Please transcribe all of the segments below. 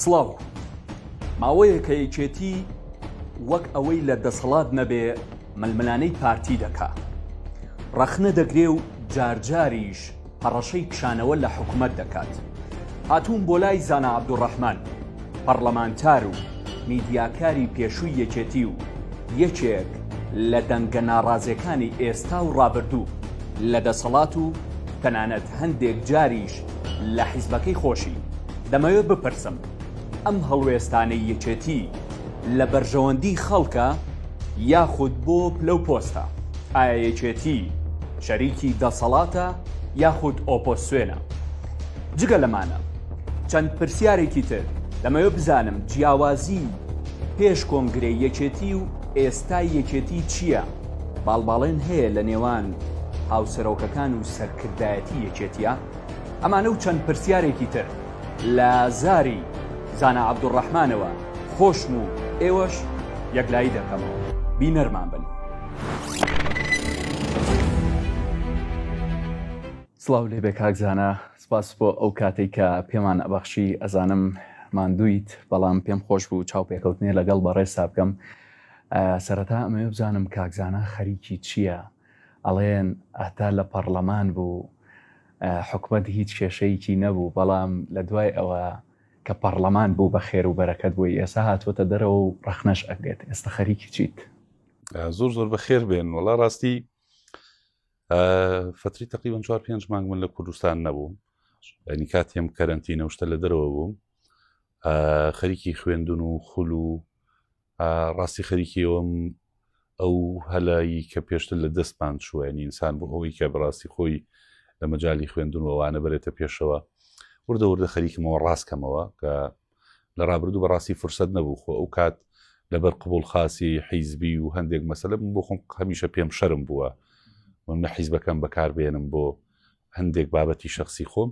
سڵاو ماوەیەکە یەکێتی وەک ئەوەی لە دەسەڵات نەبێ ململانەی پارتی دەکا ڕەخنە دەگرێ و جارجاریش هەڕەشەی کشانەوە لە حکومەت دەکات. هاتووم بۆ لای زانا عەبدولڕەحمان، پەڕڵەمانتار و میدیاکاری پێشووی یەکێتی و یەکێک لە دەنگە ناڕازێکانی ئێستا و ڕابردوو لە دەسەڵات و تەنانەت هەندێک جاریش لە حیزبەکەی خۆشی، دەمەوێ بپرسم، ئەم هەڵوێستانەی یەکێتی لە بەرژەوەندی خەڵکە یاخود بۆ پلە و پۆستە؟ ئایا یەکێتی شەریکی دەسەڵاتە یاخود ئۆپۆسسیۆنە؟ جگە لەمانە چەند پرسیارێکی تر دەمەوێت بزانم جیاوازی پێش کۆنگرەی یەکێتی و ئێستای یەکێتی چییە؟ باڵباڵێن هەیە لە نێوان هاوسەرۆکەکان و سەرکردایەتی یەکێتیە؟ ئەمانە و چەند پرسیارێکی تر. لە زاری زانا عەبدولڕەحمانەوە خۆشم و ئێوەش یەکلایی دەکەمەوە. بینەرمان بن. سڵاو لێ بێ کاک زانا سپاس بۆ ئەو کاتێک کە پێمان ئەبەخشی ئەزانم ماندویت بەڵام پێم خۆش بوو چاو پێکەوتنێ لەگەڵ بەڕێ سابکەم سەرەتا ئەمەوێ بزانم کاکزانا خەریکی چییە ئەڵێن هەتا لە پەڕڵەمان بوو حکومەت هیچ کێشەیکی نەبوو بەڵام لە دوای ئەوە کە پەڕڵەمان بوو بە خێر و بەرەکەت بووی ئێسا هاتووەتە دەرەوە و ڕەخنەش ئەگرێت ئێستا خەریکی چیت؟ زۆر زۆر بە خێر بێن وەڵا ڕاستی فتری تقریبا چوار پێنج مانگ من لە کوردستان نەبووم ینی کاتێم کەرنتی نەوشتە لە دەرەوە بووم خەریکی خوێندون و خول و ڕاستی خەریکی ئەوم ئەو هەلایی کە پێشتر لە دەستمان چووەنی ئینسان بۆ ئەوەی کە بڕاستی خۆی لە مەجای خوێندون ووانە بەرێتە پێشەوە وردە وردە خەریکمەوە ڕاستکەمەوە کە لە ڕابردوو بەڕاستی فرسەت نەبوو خۆ ئەو کات لەبەر قبول خاسی حیزبی و هەندێک مەسلم بۆ خۆم هەمیشە پێم شەرم بووە من حیزبەکەم بەکاربێنم بۆ هەندێک بابەتی شخصی خۆم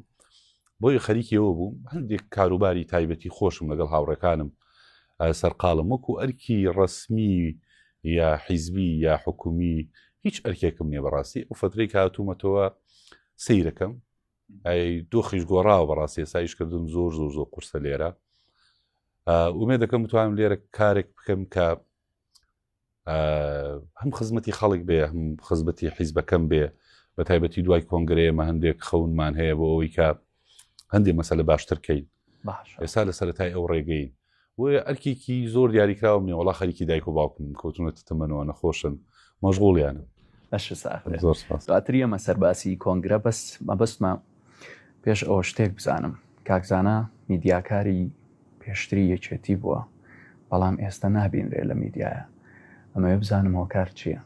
بۆی خەریکی ئەوە بووم هەندێک کاروباری تایبەتی خۆشم لەگەڵ هاوڕێکانم سەرقاڵم وەکو ئەرکی ڕسمی یا حیزبی یا حکومی هیچ ئەرکێکم نیە بەڕاستی ئەو فترەی کاتومەتەوە سیرەکەم ئەی دۆخیش گۆڕاوە بەڕاستی سایشکردن زۆر زۆر زۆر قورسە لێرە ومێ دەکەم توانم لێرە کارێک بکەم کە هەم خزمەتی خەڵک بێ هەم خزمەتی حیزبەکەم بێ بە تایبەتی دوای کۆنگرەیەمە هەندێک خەونمان هەیە بۆ ئەوەی کە هەندێک مەسەلە باشترکەین ئێستا لە سەرای ئەو ڕێگەین بۆیە ئەرکێکی زۆر دیاریکراوم نیە وڵا خەریکی دایک و باوکم کەوتونەتە تەمەەوە نەخۆشن مەژغوڵیانە دواتر ئەمە سەرباسی کۆنگرە بەس مەبەستمان پێش ئەوە شتێک بزانم، کاک زانا میدیاکاری پێشتری یەکێتی بووە، بەڵام ئێستە نابینرێ لە میدیایا، ئەمەوێ بزانم هۆکار چییە؟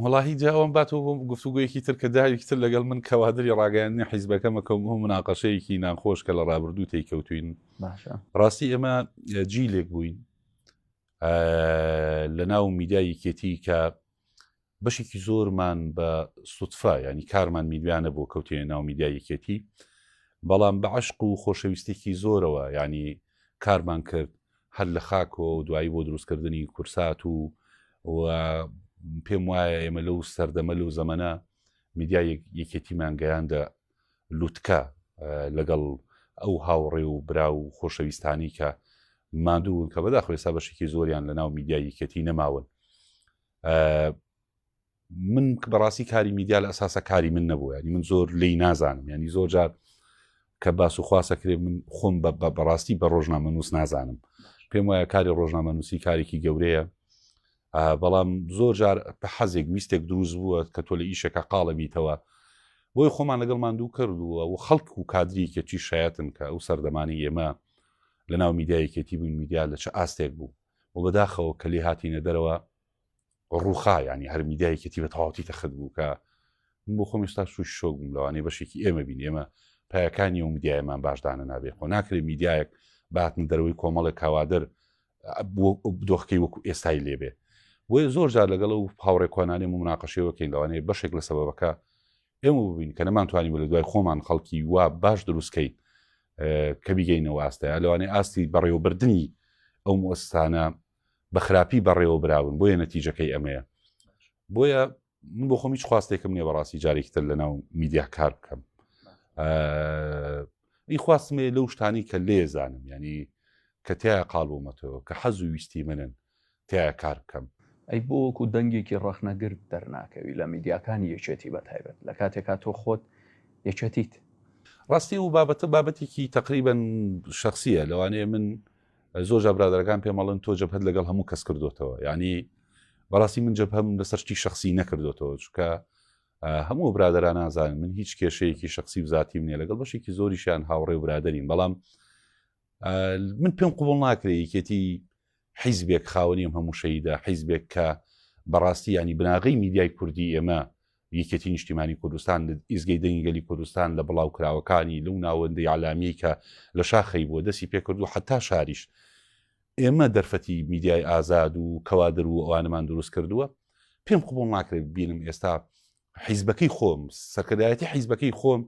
وەڵاهی جا ئەوەم باتەوە بۆ گفتوگۆیەکی تر کە جارێکی تر لەگەڵ من کەوادری ڕاگەیاندنی حیزبەکەمە کە بۆ مناقەشەیەکی ناخۆش کە لە ڕابردوو تێی کەوتوین ڕاستی ئێمە جیلێک بووین لە ناو میدیایەکێتی کە بەشێکی زۆرمان بە سوتفە یانی کارمان میدویانە بۆ کەوتێ ناو میدیا یەکێتی بەڵام بە عشق و خۆشەویستێکی زۆرەوە ینی کارمان کرد هەر لە خاکۆ و دوایی بۆ دروستکردنی کورسات و و پێم وایە ئێمە لەو سەردەمە لەو زەمەە میدیا یەکێتیمان گەیاندە لوتکە لەگەڵ ئەو هاوڕێ و برا و خۆشەویستانی کە مادوون کە بەداخۆێستا بەشێکی زۆریان لە ناو میدیا یەکێتی نەماون من بەڕاستی کاری میدیا لە ئەساسە کاری من نەبوو ینی من زۆر لی نازانم ینی زۆر جار کە باس و خواسەکرێ من خۆم بە بەڕاستی بە ڕۆژنامە نووس نازانم پێم وایە کاری ڕۆژنامە نووسی کارێکی گەورەیە بەڵام زۆر جار بە حەزێک ویستێک دروست بووە کە تۆ لە ئیشەکە قاڵە بیتەوە بۆی خۆمان لەگەڵ ماندوو کردووە و خەڵک و کادریکێکی شایەتن کە ئەو سەردەمانی ئێمە لە ناو میدایەکێتی بووین میدیا لە چ ئاستێک بوو و بەداخەوە کە لێ هاتینە دەرەوە ڕووخا یانی هەر میدیا یەکێتی بە تەواوتی تەخت بوو کە من بۆ خۆم ئێستا سوش شۆک بووم لەوانەیە بەشێکی ئێمە بین ئێمە پایەکانی و میدیایمان باشدانە نابێ خۆ ناکرێت میدیایەک باتن دەروی کۆمەڵێک کاوادر دۆخکەی وەکو ئێستای لێبێ بۆیە زۆر جار لەگەڵ و هاوڕێکۆنانێ مناقەشەوەکەین لەوانەیە بەشێک لە سەبەکە ئێمە ببین کە نەمانتوانیوە لە دوای خۆمان خەڵکی وا باش دروستکەین کە بیگەینەوە ئاستەیە لەوانەیە ئاستی بەڕێوەبردننی ئەو مۆستانە بە خراپی بەڕێوە براون بۆیە نەتیجەکەی ئەمەیە بۆیە من بۆ خۆم هیچ خواستێکم نیە بەڕاستی جارێکتر لە ناو میدیا کار بکەم ئی خواستمێ لەو شتانی کە لێزانم ینی کە تایە قالبوومەتەوە کە حەز و ویستی منن تیایا کار بکەم. ئەی بۆ وەکو دەنگێکی ڕەخنەگر دەرناکەوی لە میدیاکانی یەکێتی بە تایبەت لە کاتێکا تۆ خۆت یەکێتیت؟ ڕاستی ئەو بابەتە بابەتێکی تەقریبەن شەخسیە لەوانەیە من زۆر جا برادەرەکان پێم ئەڵێن تۆ جەبهەت لەگەڵ هەموو کەس کردوتەوە یعنی بەڕاستی من جەبهەم لەسەر شتی شخصی نەکردوتەوە چکە هەموو برادران نازانن من هیچ کێشەیەکی شخصی و ذاتیم نیە لەگەڵ بەشێکی زۆریشیان هاوڕێ و برادرین بەڵام من پێم قوبڵ ناکرێ یەکێتی حیزبێک خاوەنیم هەموو شەیدا حیزبێک کە بەڕاستی ینی بناغی میدیای کوردی ئێمە یەکێتی نیشتیمانی کوردستان ئیزگەی دەنگگەلی کوردستان لە بڵاو کراوەکانی لەو ناوەندەی علامی کە لە شاخی بووە دەستی پێکردو حتا شاریش ئێمە دەرفەتی میدیای ئازاد و کەوادر و ئەوانمان دروست کردووە پێم قوبڵ ناکرێت بینم ئێستا حیزبەکەی خۆم سەرکردایەتی حیزبەکەی خۆم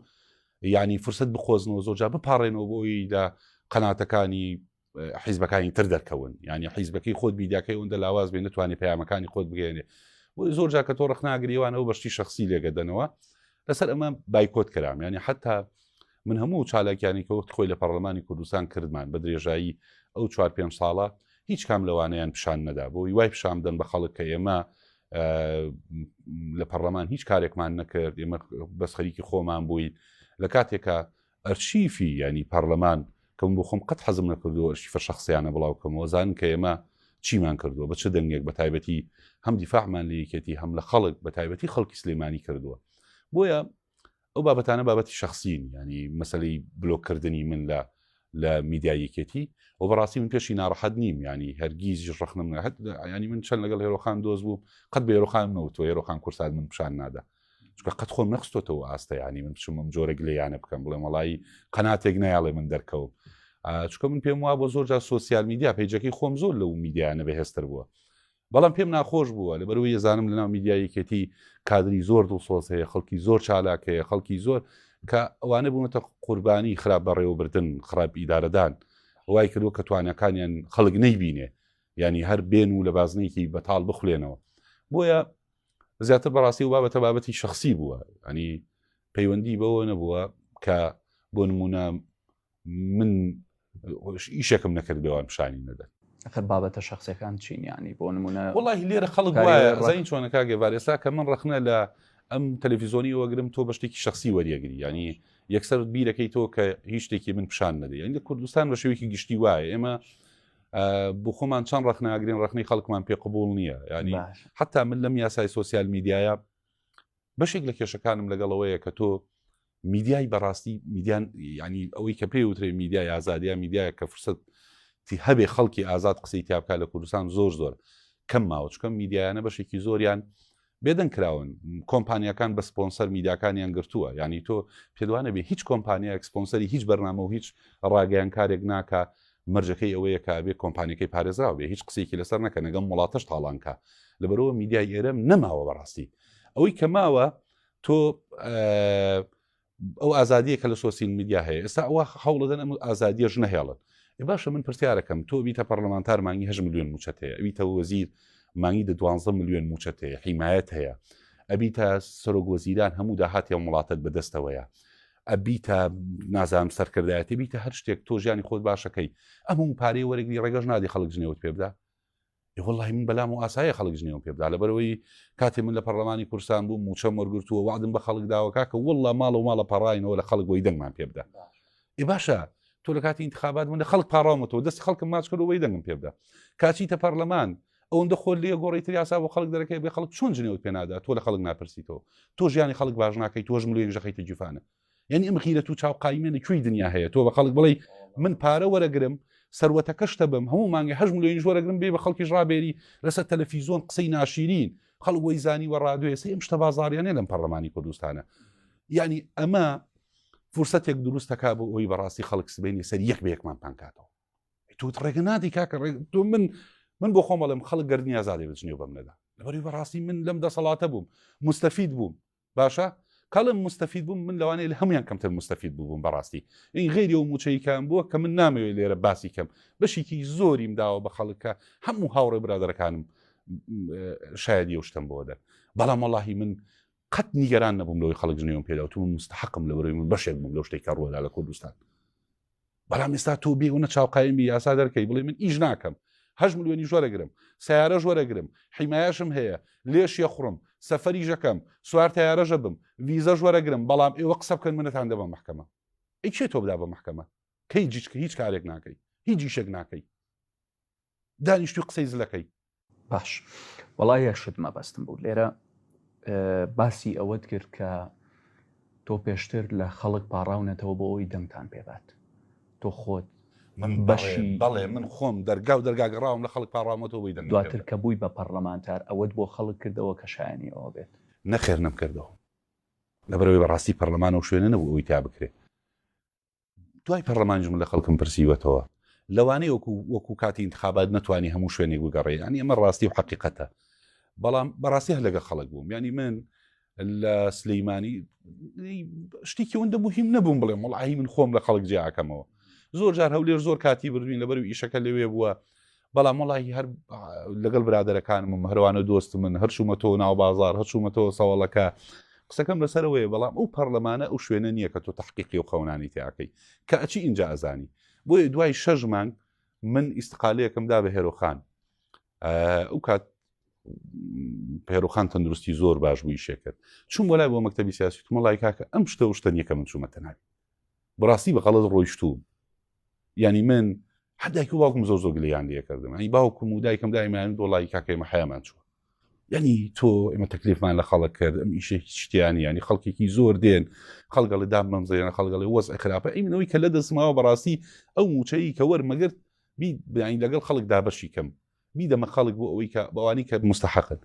ینی فرسەت بخۆزنەوە زۆرجا بپارڕێنەوە بۆی لە قەناتەکانی حیزبەکانی تر دەرکەون ینی حیزبەکەی خۆت بیداکەی ئەوەندە لاواز بێ نتوانێت پەیامەکانی خۆت بگەێنێ زۆر جاکە تۆ ڕخناگریوانەوە بەشتی شخصی لێگەدەنەوە لەسەر ئەمە بایکۆت کرام ینی حتا من هەموو چالاکیانی کە وەخت خۆی لە پەرلەمانی کوردستان کردمان بە درێژایی ئەو چوار پێنج ساڵە هیچ کام لەوانەیان پیشان نەدا بۆ وای پیشان بدەن بە خەڵک کە ئێمە لە پەرلەمان هیچ کارێکمان نەکرد ئێمە بەس خەریکی خۆمان بووین لە کاتێکە ئەرشیفی ینی پەرلەمان کەم بۆ خۆم قەت حەزم نەکردو ئەرشیفە شخصیانە بڵاو کەمەوە زان کە ئێمە چیمان کردووە بە چ دەنگێک بە تایبەتی هەم دیفاعمان لە یەکێتی هەم لە خەڵک بە تایبەتی خەڵکی سلێمانی کردووە بۆیە ئەو بابەتانە بابەتی شخصین ینی مەسلەی بلۆکردنی من لە لە میدایەکێتی و بەڕاستی من پێشی ناڕەحەت نیم ینی هەرگیز ڕخنم نهت ینی من چەند لەگەڵ هێرۆخان دۆز بوو قەت بە هێرۆخان نەوتۆ هێرۆخان کورسان من پیشان نادا چکە قەت خۆم نەخستۆتەوە ئاستە ینی من بچمم جۆرەگ لە یانە بکەم بڵێ مەڵایی قەناتێک نایڵێ من دەرکەوم چکە من پێم وا بۆ زۆر جار سوسیال میدیا پیجەکەی خۆم زۆر لەو میدیانە بەهێستر بووە بەڵام پێم ناخۆش بووە لەبەرەوەی ئەزانم لەناو میدیای یەکێتی کادری زۆر دڵسۆز هەیە، خەڵکی زۆر چالاک هەیە، خەڵکی زۆر کە ئەوانە بوونەتە قوربانی خراپ بەڕێوەبردن، خراپ ئیدارەدان وای کردووە کە تواناکانیان خەڵک نەیبینێ، یانی هەر بێن و لە بازنەیەکی بەتاڵ بخولێنەوە. بۆیە زیاتر بەڕاستی و بابەتە بابەتی شخصی بووە ئەنی پەیوەندی بەوە نەبووە کە بۆ نمونە من ئیشەکەم نەکرد بێوان پیشانی نەدەن خەر بابەتە شخصەکان چینیانی بۆ نمونە وڵی لێرە خەڵک وایە چۆنەکە گەبار ئێستا کە من ڕخنە لە ئەم تەلەڤیزۆنی وەگرم تۆ بە شتێکی شخصی وەریەگری ینی یەکسەر بیرەکەی تۆ کە هیچ شتێکی من پیشان نەدە ینی لە کوردستان بە شێوەیەکی گشتی وایە ئێمە بۆ خۆمان چەند ڕخناگرین ڕخنی خەڵکمان پێ قبول نییە ینی حتا من لەم یاسای سوسیال میدیایە بەشێک لە کێشەکانم لەگەڵەوەیە کە تۆ میدیای بەڕاستی میدیان ینی ئەوەی کە پێی وترێ میدیای ئازادیا میدیایە کە فرسەت تی هەبێ خەڵکی ئازاد قسەی تیاابکە لە کوردستان زۆر زۆر کەم ماوەچکەم میدیایانە بەشێکی زۆریان بێدەن کراون کۆمپانیەکان بە سپۆنسەر میداکانیان گرتووە ینی تۆ پێدوانە بێ هیچ کۆمپانیا ئەکسپۆنسەری هیچ بەرنامە و هیچ ڕاگەیان کارێک ناکە مەرجەکەی ئەوەیە کە ئەبێ کۆمپانیەکەی پارێزراو بێ هیچ قسێکی لەسەر نەکە نەگەم وڵاتەش تاڵانکە لەبەرەوە میدیای ئێرەم نەماوە بەڕاستی ئەوەی کە ماوە تۆ ئەو ئازادیە کە لە سۆسیین میدیا هەیە ئێستا ئەوە هەوڵدەن ئەم ئازادیە ژنە هێڵن باشە من پرسیارەکەم تۆ بیتە پەرلەمانتار مانگی هە میلیۆن موچەت هەیە ئەویتە وەزیر مانگی دە دوانزە میلیۆن موچەت هەیە حیمایەت هەیە ئەبیتە سەرۆک وەزیران هەموو داهاتی وڵاتت بەدەستەوەیە ئەبیتە نازانم سەرکردایەتی بیتە هەر شتێک تۆ ژیانی خۆت باشەکەی ئەموو پارەی وەرەگری ڕێگەش نادی خەڵک جنێوت پێ بدا وڵی من بەلام و ئاسایە خەڵک جنێوم پێ بدا لەبەرەوەی کاتی من لە پەرلەمانی کورسان بوو موچە مەرگرتووە وادم بە خەڵک داوەکە کە وڵا ماڵ و ماڵە پەڕینەوە لە خەڵک بۆی دەنگمان پێ بدا ئی باشە تۆ لە کاتی انتخابات من لە خەڵک پاڕامەوە دەست خەڵکم ماچ کرد وی دەنگم پێ بدا کاچیتە پەرلەمان ئەوەندە خۆر لێ گۆڕی تر یاسا بۆ خەڵک دەرەکەی بێ خەڵک چۆن جنێوت پێ نادا تۆ لە خەڵک ناپرسیتەوە تۆ ژیانی خەڵک باش ناکەیت تۆش ملێک ژەخیتە جیفانە یعنی ئەم غیرەت و چاو قایمێنە کوێی دنیا هەیە تۆ بە خەڵک بڵێ من پارە وەرەگرم سەروەتەکەشتە بم هەموو مانگە هەش ملیۆنی ژۆرەگرم بێ بە خەڵکیش ڕابێری لەسەر تەلەفیزۆن قسەی ناشیرین خەڵک وەی زانی وە ڕادوێسی ئەم شتە بازاریانە لەم پەرلەمانی کوردستانە یعنی ئەمە فرسەتێک دروستەکە بۆ ئەوی بەڕاستی خەڵک سبێنی سەر یەک بە یەکمان پانکاتەوە توت ڕێگە نادی کاکە ڕێگ تۆ من من بۆ خۆم بەڵێم خەڵک گەردنی ئازادێ بچنیێ بەم نەدا لەبەری بەڕاستی من لەم دەسەڵاتە بووم مستەفید بووم باشە کاڵم مستەفید بووم من لەوانەیە لە هەمویان کەمتر مستەفید بووم بەڕاستی این غێری و موچەیکان بووە کە من نامەوێت لێرە باسی کەم بەشێکی زۆریم داوە بە خەڵکە هەموو هاوڕێ برادەکانم شایدی و شتم بۆدە بەڵام وڵی من قەت نیگەران نەبووم لەوەی خەڵک جنێوم پێداوتون مستحقم لەبەرەوەی من بەشێک بووم لەو شتێکە ڕۆدا لە کوردستان بەڵام ئێستا تۆ بێ وەە چاو قایمی یاسا دەرکەی بڵێ من ئیش ناکەم هەش ملیۆنی ژۆرەگرم سیارە ژۆرەگرم حیمایشم هەیە لێش یە خوڕم سەفەری ژەکەم سوار تیارەژە بم ویزە ژۆرەگرم بەڵام ئێوە قسە بکەن منەتان دەبە محکەمە ئەی چێ تۆ بدا بە محکەمە کەی جیچکە هیچ کارێک ناکەی هیچ جیشێک ناکەی دانیشتوی قسەی زلەکەی. باش وەڵا یەک شت مەبەستم بوو لێرە باسی ئەوەت کرد کە تۆ پێشتر لە خەڵک پاڕاونەتەوە بۆ ئەوی دەنگتان پێبات تۆ خۆت من بەشی بەڵێ من خۆم دەرگا و دەرگاگەڕاوم لە خەڵک پاڕامەتەوە بی دەنگ دواتر کە بووی بە پەرلەمانتار ئەوەت بۆ خەڵک کردەوە کە شایانی ئەوە بێت نەخێر نەمکردەوە لەبەرەوەی بەڕاستی پەرلەمانەوە شوێنە نەبوو ئەوی تا بکرێت دوای پەڕلەمان جمە لە خەڵکم پرسیوەتەوە لەوانەیە وەکو وەکو کاتی انتخابات نەتوانی هەموو شوێنێک بگەڕێ ینی ئەمە ڕاستی و حقیقەتە بەڵام بەڕاستیه لەگە خەڵک بووم ینی من لە سلەیمانی شتێکی ئەوەندە مهم نەبووم بڵێم وڵعی من خۆم لە خەڵک جیاکەمەوە زۆر جار هەولێر زۆر کاتی بردوین لەبەر و ئیشەکە لەوێ بووە بەڵام وڵی هەر لەگەڵ برادەرەکانم و هەروانە دۆست من هەرچوومەتەوە ناو بازار هەرچوومەتەوە سەوەڵەکە قسەکەم لەسەرەوەی بەڵام ئەو پەرلەمانە ئەو شوێنە نییە کە تۆ تحقیقی و خەونانی تیاکەی کە ئەچی ئینجا ئەزانی بۆیە دوای شەژ مانگ من ئیسقالەکەم دا بە هێرۆخان ئەو کات پێرۆخان تەندروستی زۆر باش بووی شێکرد چون بۆ لای بۆ مەکتتەبی سیاسی تمەڵای کاکە ئەم شتە شتە نیەکە من چوومەتە ناوی بەڕاستی بە غەڵەت ڕۆیشتووم یانی من هەر دایک و باوکم زۆر زۆر گلیان لێ کردم ئەی باوکم و دایکم دایمان دۆڵی کاکە ئێمە حەیامان چووە یعنی تۆ ئێمە تەکلیفمان لە خەڵک کرد ئەم ئیشە شتیانی ینی خەڵکێکی زۆر دێن خەڵگەڵی دام مەمزێنە خەڵگەڵی وەز خراپە ئەی منەوەی کە لە دەستماوە بەڕاستی ئەو موچەیی کە وەرمەگرت بیانی لەگەڵ خەڵکدا بەشی کەم بیدەمە خەڵک بۆ ئەوەی کە بەوانی کە مستحقن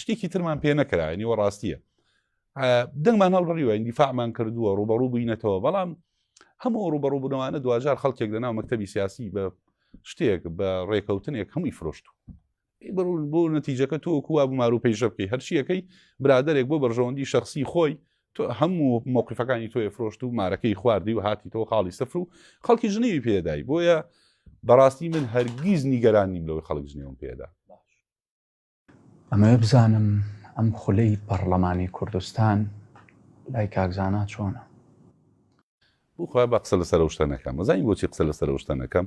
شتێکی ترمان پێ نەکراوە نیوە ڕاستیە دەنگمان هەڵبڕیوە ئەندیفاعمان کردووە ڕوبەڕوو بووینەتەوە بەڵام هەموو ڕوبەڕوو بنەوانە دوجار خەڵکێک لە ناو مەکتتەبی سیاسی بە شتێک بە ڕێکەوتنێک هەمووی فرۆشت و بڕون بۆ نەتیجەکە تۆ کووا بمار و پێیشە بکەی هەرچیەکەی برادێک بۆ بەرژەوەندی شخصی خۆی تۆ هەموو مەوقفەکانی تۆی فرۆشت و مارەکەی خواردی و هاتی تۆ خاڵی سفر و خەڵکی ژنیوی پێدای بۆیە بەڕاستی من هەرگیز نیگەران نیم لەوەی خەڵک ژنیوم پێدا ئەمەیە بزانم ئەم خولەی پەرلەمانی کوردستان لای کاکزانا چۆنە بخوا بە قسە لە سەرشتە نەکەم مەزانی بۆچی قسە لە سەرشتە نەکەم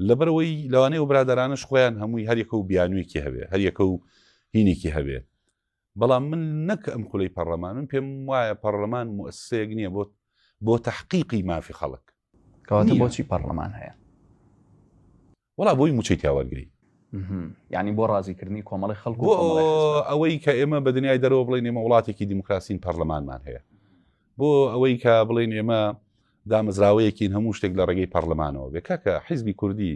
لەبەرەوەی لەوانەیە و برادرانش خۆیان هەمووی هەریەکە و بیانوێکی هەبێ هەریەکە و هینێکی هەبێت بەڵام من نەک ئەم خولەی پەڕەمان من پێم وایە پەڕەمان موسەیەک نییە بۆت بۆ تحقیقی مافی خەڵک کەواتە بۆچی پەڕەمان هەیە وڵا بۆی موچەی تیاوەرگری ینی بۆ ڕازیکردنی کۆمەڵی خەڵک ئەوەی کە ئێمە بە دنیای دەرەوە بڵێن ئێمە وڵاتێکی دیموکراسین پەرلەمانمان هەیە بۆ ئەوەی کە بڵێن ئێمە دامەزراوەیەکین هەموو شتێک لە ڕێگەی پەرلەمانەوە بێ کاکە حیزبی کوردی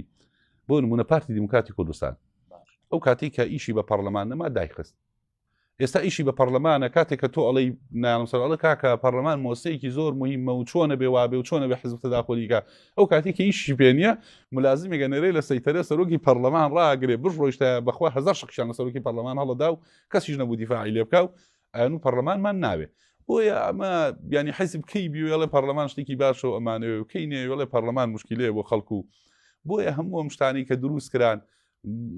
بۆ نمونە پارتی دیموکراتی کوردستان ئەو کاتی کە ئیشی بە پەرلەمان نەما دایخست ئێستا ئیشی بە پەرلەمانە کاتێک کە تۆ ئەڵی نانسەر ئەڵە کاکە پەرلەمان مۆسەیەکی زۆر مهمە و چۆنە بێ وابێ و چۆنە بە حزب تداخۆلیکە ئەو کاتی کە ئیشی پێنیە ملازمێکە نەرێ لە سەیتەرە سەرۆکی پەرلەمان ڕاگرێ بش ڕۆیشتە بەخوا هزار شخشان لە سەرۆکی پەرلەمان هەڵدا و کەسیش نەبوو دیفاعی لێ بکە و ئەنوو پەرلەمانمان ناوێ بۆیە ئەمە بیانی حیزب کەی بیوێڵێ پەرلەمان شتێکی باشە و ئەمانەوە و کەی نێوێڵێ پەرلەمان مشکلەیە بۆ خەڵکو و بۆیە هەموو ئەم شتانی کە دروست کران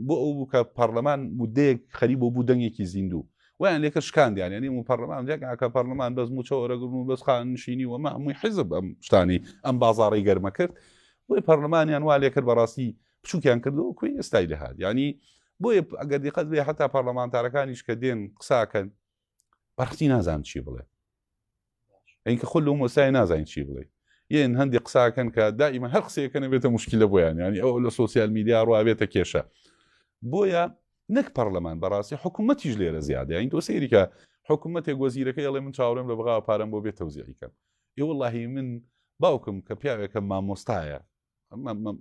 بۆ ئەو بوو کە پەرلەمان مدەیەک خەری بۆ بوو دەنگێکی زیندوو ویان لێکە شکاندیان ینی و پەرلەمان جێکاکە پەرلەمان بەس موچەوەرەگرن و بەس خان نشینی وەمە هەمووی حیزب ئەم شتانی ئەم بازاڕی گەرمە کرد بۆی پەرلەمانیان وا لێکرد بەڕاستی بچوکیان کردو وەکوی ئێستای دەهات یعنی بۆیە ئەگەر دیقەت بێ هەتا پارلەمانتارەکانیش کە دێن قساکەن بەڕختی نازان چی بڵێ ئەینکە خۆ لەو مۆسای نازانین چی بڵێ یەن هەندی قساکەن کە دائیمە هەر قسەکەنە بێتە مشکلە بۆیان ینی ئەو لە سوسیال میدیا ڕواێتە کێشە بۆیە نەک پەرلەمان بەڕاستی حکوومەتیش لێرە زیادە این تۆ سەیریکە حکوومەتێک وەزیرەکەی ئەڵێ من چاوەڕێم لە بغاوە پارەم بۆ بێ تەوزیعیکەم ئێ وڵی من باوکم کە پیاوێکە مامۆستایە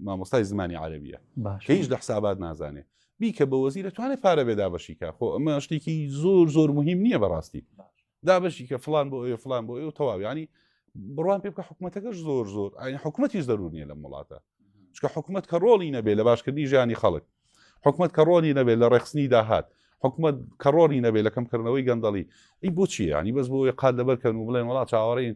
مامۆستای زمانی عربیە کە هیچ لە حسابات نازانێ بیکە بە وەزی دەتوانێت پارە بێ دابەشیکە خۆ ئەمە شتێکی زۆر زۆر مهم نییە بەڕاستی دابەشی کە فلان بۆ ئەوێ فلان بۆ ئەو تەواویانی بڕوان پێ بکە حکوومەتەکەش زۆر زۆر ئاین حکوومەتیش دەرور نیە لەم وڵاتە چکە حکوومەت کە ڕۆڵی نەبێ لە باشکردنی ژیانی خەڵک حکوومەت کە ڕۆنی نەبێ لە ڕێخستنی داهات حکوومەت کە ڕۆنی نەبێ لە کەمکردنەوەی گەندەڵی ئی بۆچی ینی بەس بۆ قات لەبەر کەن و بڵێن وڵات چاوەڕین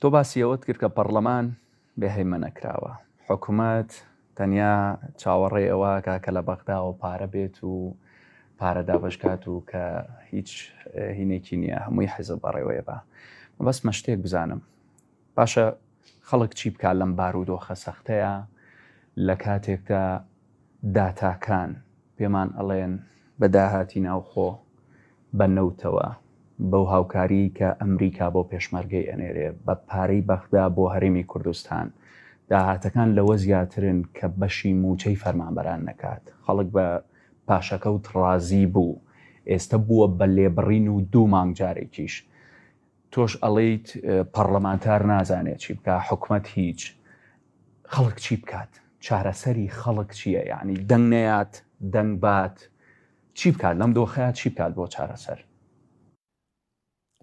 تۆ باسی ئەوەت کرد کە پەڕڵەمان بێ هەیمەنە کراوە. حکومەت تەنیا چاوەڕێی ئەوەکا کە لە بەغداوە پارە بێت و پارە دابەش کات و کە هیچ هینێکی نییە هەمووی حیزب بەڕێوەیە با. مەبەستمە شتێک بزانم. باشە خەڵک چی بکات لەم بارودۆخە سەختەیا لە کاتێکدا داتاکان پێمان ئەڵێن بە داهاتی ناوخۆ بە نەوتەوە بەو هاوکاریەی کە ئەمریکا بۆ پێشمەرگەی ئەنێرێ بە پارەی بەغدا بۆ هەرێمی کوردستان داهاتەکان لەوە زیاترن کە بەشی موچەی فەرمانبەران نەکات خەڵک بە پاشەکەوت ڕازی بوو ئێستە بووە بە لێبڕین و دوو مانگ جارێکیش تۆش ئەڵێیت پەڕڵەمانتار نازانێ چی بکا حکومەت هیچ. خەڵک چی بکات چارەسەری خەڵک چیە یانی دەنگ نەیات دەنگ بات چی بکات لەم دۆخەیە چی بکات بۆ چارەسەر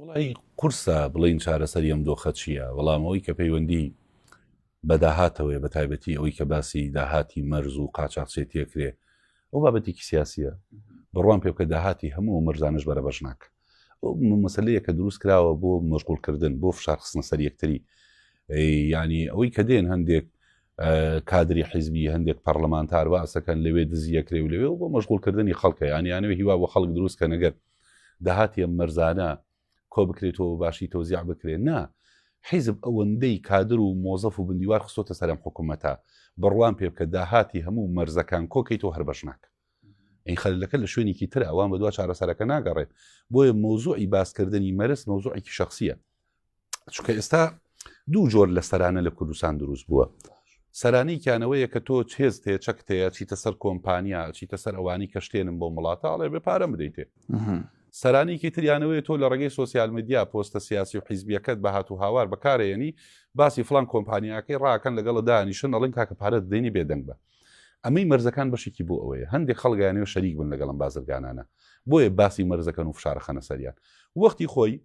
وڵی قورسە بڵین چارەسەری ئەم دۆخە چییە وەڵامەوەی کە پەیوەندی بەداهاتەوەی بە تایبەتی ئەوی کە باسی داهاتی مەرز و قاچاقچێتیە کرێ ئەو بابەتێکی سیاسیە بڕوان پێ بکە داهاتی هەموو مەرزانش بەرە بەش ناکە مەسلەیە کە دروست کراوە بۆ مەشغولکردن بۆ فشارخستنە سەر یەکتری ینی ئەوەی کە دێن هەندێک کادری حیزبی هەندێک پەرلەمانتار باسەکەن لەوێ دزیەکرێ و لەوێ و بۆ مەشغولکردنی خەڵکە یانیانەوە هیوا بۆ خەڵک دروست کە نەگەر داهاتە مەرزانە کۆ بکرێتەوە باشی تۆزیع بکرێت نا حیزب ئەوەندەی کادر و مۆزەف و بندیوار خستۆتە سەرم حکوومەتە بڕوان پێ بکە داهاتی هەموو مەرزەکان کۆکەیتەوە هەر بەشناکە ئەی خەلەکە لە شوێنێکی تر ئەوان بە دوا چارەسەرەکە ناگەڕێ بۆیە مۆزوعی باسکردنی مەرز مۆزوعێکی شخصیە چکە ئێستا دوو جۆر لە سەرانە لە کوردستان دروست بووە سەرانیکیانەوەیە کە تۆ هێز تێ چەک تەیە چیتە سەر کۆمپانیا چیتە سەر ئەوانی کە شتێنم بۆ وڵاتاڵێ بێ پارە بدەیتێ سەرانیکی تریانەوەی تۆ لە ڕێگەی سوسیال میدیا پۆستە سیاسی و حیزبیەکەت بە هات و هاوار بەکارێنی باسی فلان کۆمپانیاکەی ڕاکەن لەگەڵ دانیشن ئەڵین کاکە پارە دێنی بێدەنگ بە ئەمەی مەرزەکان بەشێکی بۆ ئەوەیە هەندێک خەڵک یانەوێ شەریک بن لەگەڵ ئەم بازرگانانە بۆیە باسی مەرزەکەن و فشارە خەنە سەریان وەختی خۆی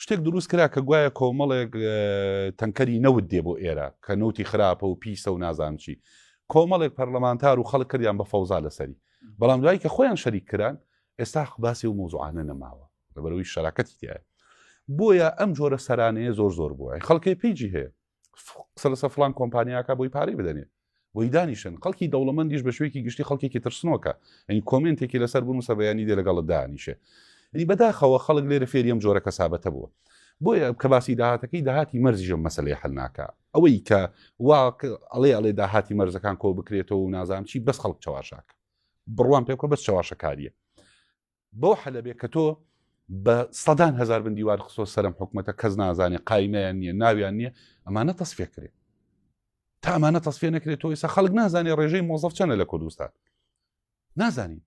شتێک دروست کرا کە گوایە کۆمەڵێک تەنکەری نەوت دێ بۆ ئێرە کە نەوتی خراپە و پیسە و نازانچی کۆمەڵێک پەرلەمانتار و خەڵک کردیان بە فەوزا لەسەری بەڵام دوایی کە خۆیان شەریک کران ئێستا باسی و مۆزوعانە نەماوە لەبەرەوەی شەراکەتی تایە بۆیە ئەم جۆرە سەرانەیە زۆر زۆر بووە خەڵکی پیجی هەیە قسە لەسەر فلان کۆمپانیاکە بۆی پارەی بدەنێ بۆی دانیشن خەڵکی دەوڵەمەندیش بە شوێکی گشتی خەڵکێکی ترسنۆکە ئەین کۆمنتێکی لەسەر بوون و سەبیانی دێ لەگەڵت دانیشێ ئەنی بەداخەوە خەڵک لێرە فێریەم جۆرە کەسابەتە بووە بۆیە کە باسی داهاتەکەی داهاتی مەرزیژە مەسلەی حلناکە ئەوەی کە وا ئەڵێ ئەڵێ داهاتی مەرزەکان کۆ بکرێتەوە و نازانام چی بەس خەڵک چاواشاکە بڕوان پێ بکە بەس چاواشەکاریە بەو حەلەبێ کە تۆ بە سەدان هزار بن دیوار خسۆ سەرم حکوومەتە کەس نازانێ قایمەیان نییە ناویان نییە ئەمانە تەسفێ کرێت تا ئەمانە تەسفێ نەکرێت تۆ ئێستا خەڵک نازانێ ڕێژەی مۆزەف چەنە لە کوردستان نازانین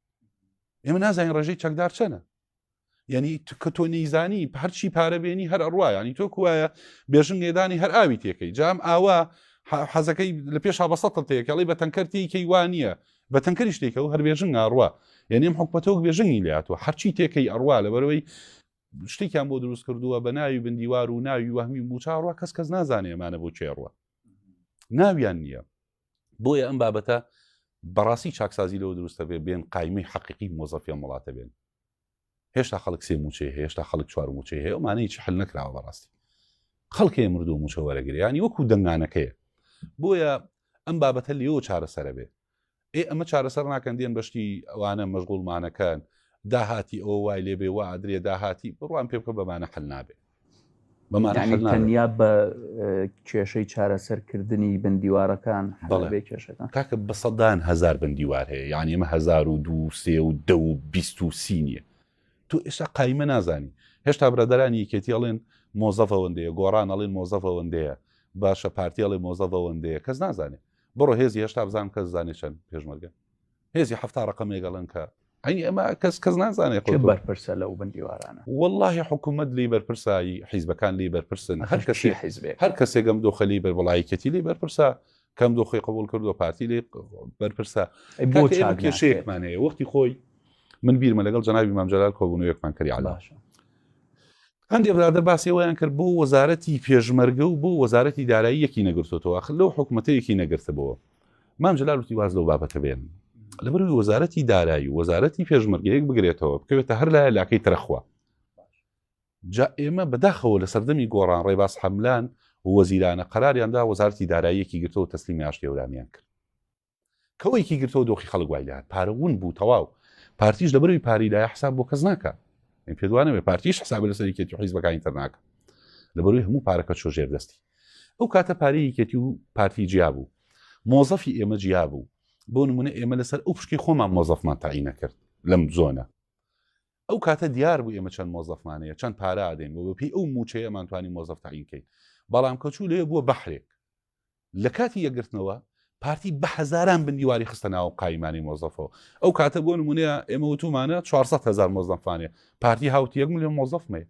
ئێمە نازانین ڕێژەی چەکدار چەنە یعنی کە تۆ نەیزانی هەرچی پارە بێنی هەر ئەڕواانی تۆ کوایە بێژن نێدانی هەر ئاوی تێکەی جام ئاوا حەزەکەی لە پێش هابەسەتە تێکەڵی بە تەنکەر تێکەی وانە بە تەنکەری شتێکە و هەر بێژنگ ئەڕوا یانی ئەم حکومەتە وەک بێژنگی لێهاتووە هەرچی تێکەی ئەڕوا لەبەرەوەی شتێکیان بۆ دروست کردووە بە ناوی بندیوار و ناوی وەهمی و موچاڕوە کەس کەس نازانێ ئەمانە بۆ چێڕوە ناویان نییە بۆیە ئەم بابەتە بەڕاستی چاکسازی لەوە دروستە بێ بێن قایمی حەقیقی مۆزەفیان وڵاتە بێن هێشتا خەڵک سێ موچەی هەیە هێشتا خەڵک چوار موچەی هەیە ئەمانە هیچ حل نەکراوە بەڕاستی خەڵکەیە مردو موچە وەرەگریانی وەکو دەنگانەکەیە بۆیە ئەم بابەتە لێەوە چارەسەرە بێ ئێ ئەمە چارەسەر ناکەن دێن بەشتی ئەوانە مەژغوڵمانەکەن داهاتی ئەوە وای لێبێ و ئادرێ داهاتی بڕوان پێ بکە بەمانە حل نابێت تەنیا بە کێشەی چارەسەرکردنی بندیوارەکان بەڵێ کێشەکان کاکە بە سەدان هزار بندیوار هەیە یان ئمە 1920 نیە تو ئێستا قایمە نازانی هێشتا برادرانی یکێتیڵێن مۆزەفەوەندەیە گۆڕان ئەڵێن مۆزەفەوەندەیە باشە پارتیاڵی مۆزەفەوەندەیە کەس نازانێت بڕۆ هێزی هێشتا بزان کە زانێ چەند پێشمەرگە هێزی حەفتا ڕقم لەگەڵن کە ئەی ئەمە کەس کەس نازانێت کە بەرپرسە لەو بندیوارانە واللهی حکوومەت لی بەرپرسایی حیزبەکان لی بەرپرسن هەر کەسی حیزبێ هەر کەسێکم دۆخەلی بەربڵایکەتی لی بەرپرسە کەم دۆخی قبول کردو پارتی لی بەرپرسە بۆ کێشەیەکمانەیە وەختی خۆی من بیرمە لەگەڵ جەنابی مامجلال کۆبوونەوەیەکمان کردی علاش هەندێ برادەر باسی ئەوەیان کرد بۆ وەزارەتی پێشمەرگە و بۆ وەزارەتی دارایی یەکی نەگرتۆتەوە ئاخر لەو حکومەتە یەکی نەگرتبەوە مام جلال وتی واز لەو بابەتە بێن لەبەروی وەزارەتی دارایی وەزارەتی پێشمەرگە یەک بگرێتەوە بکەوێتە هەر لایە لاکەی ترەخوا جا ئێمە بەداخەوە لە سەردەمی گۆڕان ڕێباز حەملان وەزیرانە قەراریاندا وەزارتی داراییەکی گرتەوە تەسلیمی ئاشتێورامیان کرد کەوەیکی گرتەوە دۆخی خەڵک وای لێهات پارە ون بوو تەواو پارتیش لەبەروی پارەی لایە حساب بۆ کەس ناکە من پێ دوانەوێ پارتیش حساب لە سەرکێتی حیزبەکانی تر ناکە لەبەروی هەموو پارەکە چۆ ژێر دەستی ئەو کاتە پارەی یەکێتی و پارتی جیا بوو مۆزەفی ئێمە جیا بوو بۆ نمونە ئێمە لەسەر ئەو پشکی خۆمان مۆزەفمان تاعی نەکرد لەم زۆنە ئەو کاتە دیار بوو ئێمە چەند مۆزەفمانەیە چەند پارادەین بۆ بەپی ئەو موچەیەمانتوانی مۆزەف تاعینکەین بەڵام کەچوو لێ بووە بەحرێک لە کاتی یەکگرتنەوە پارتی بە هەزاران بندیواری خستە ناو قایمانی مۆزەفەوە ئەو کاتە بۆ نمونەیە ئێمە وتومانە 400 هزار مۆزەفانێ پارتی هاوت یەک میلیۆن مۆزەفمێ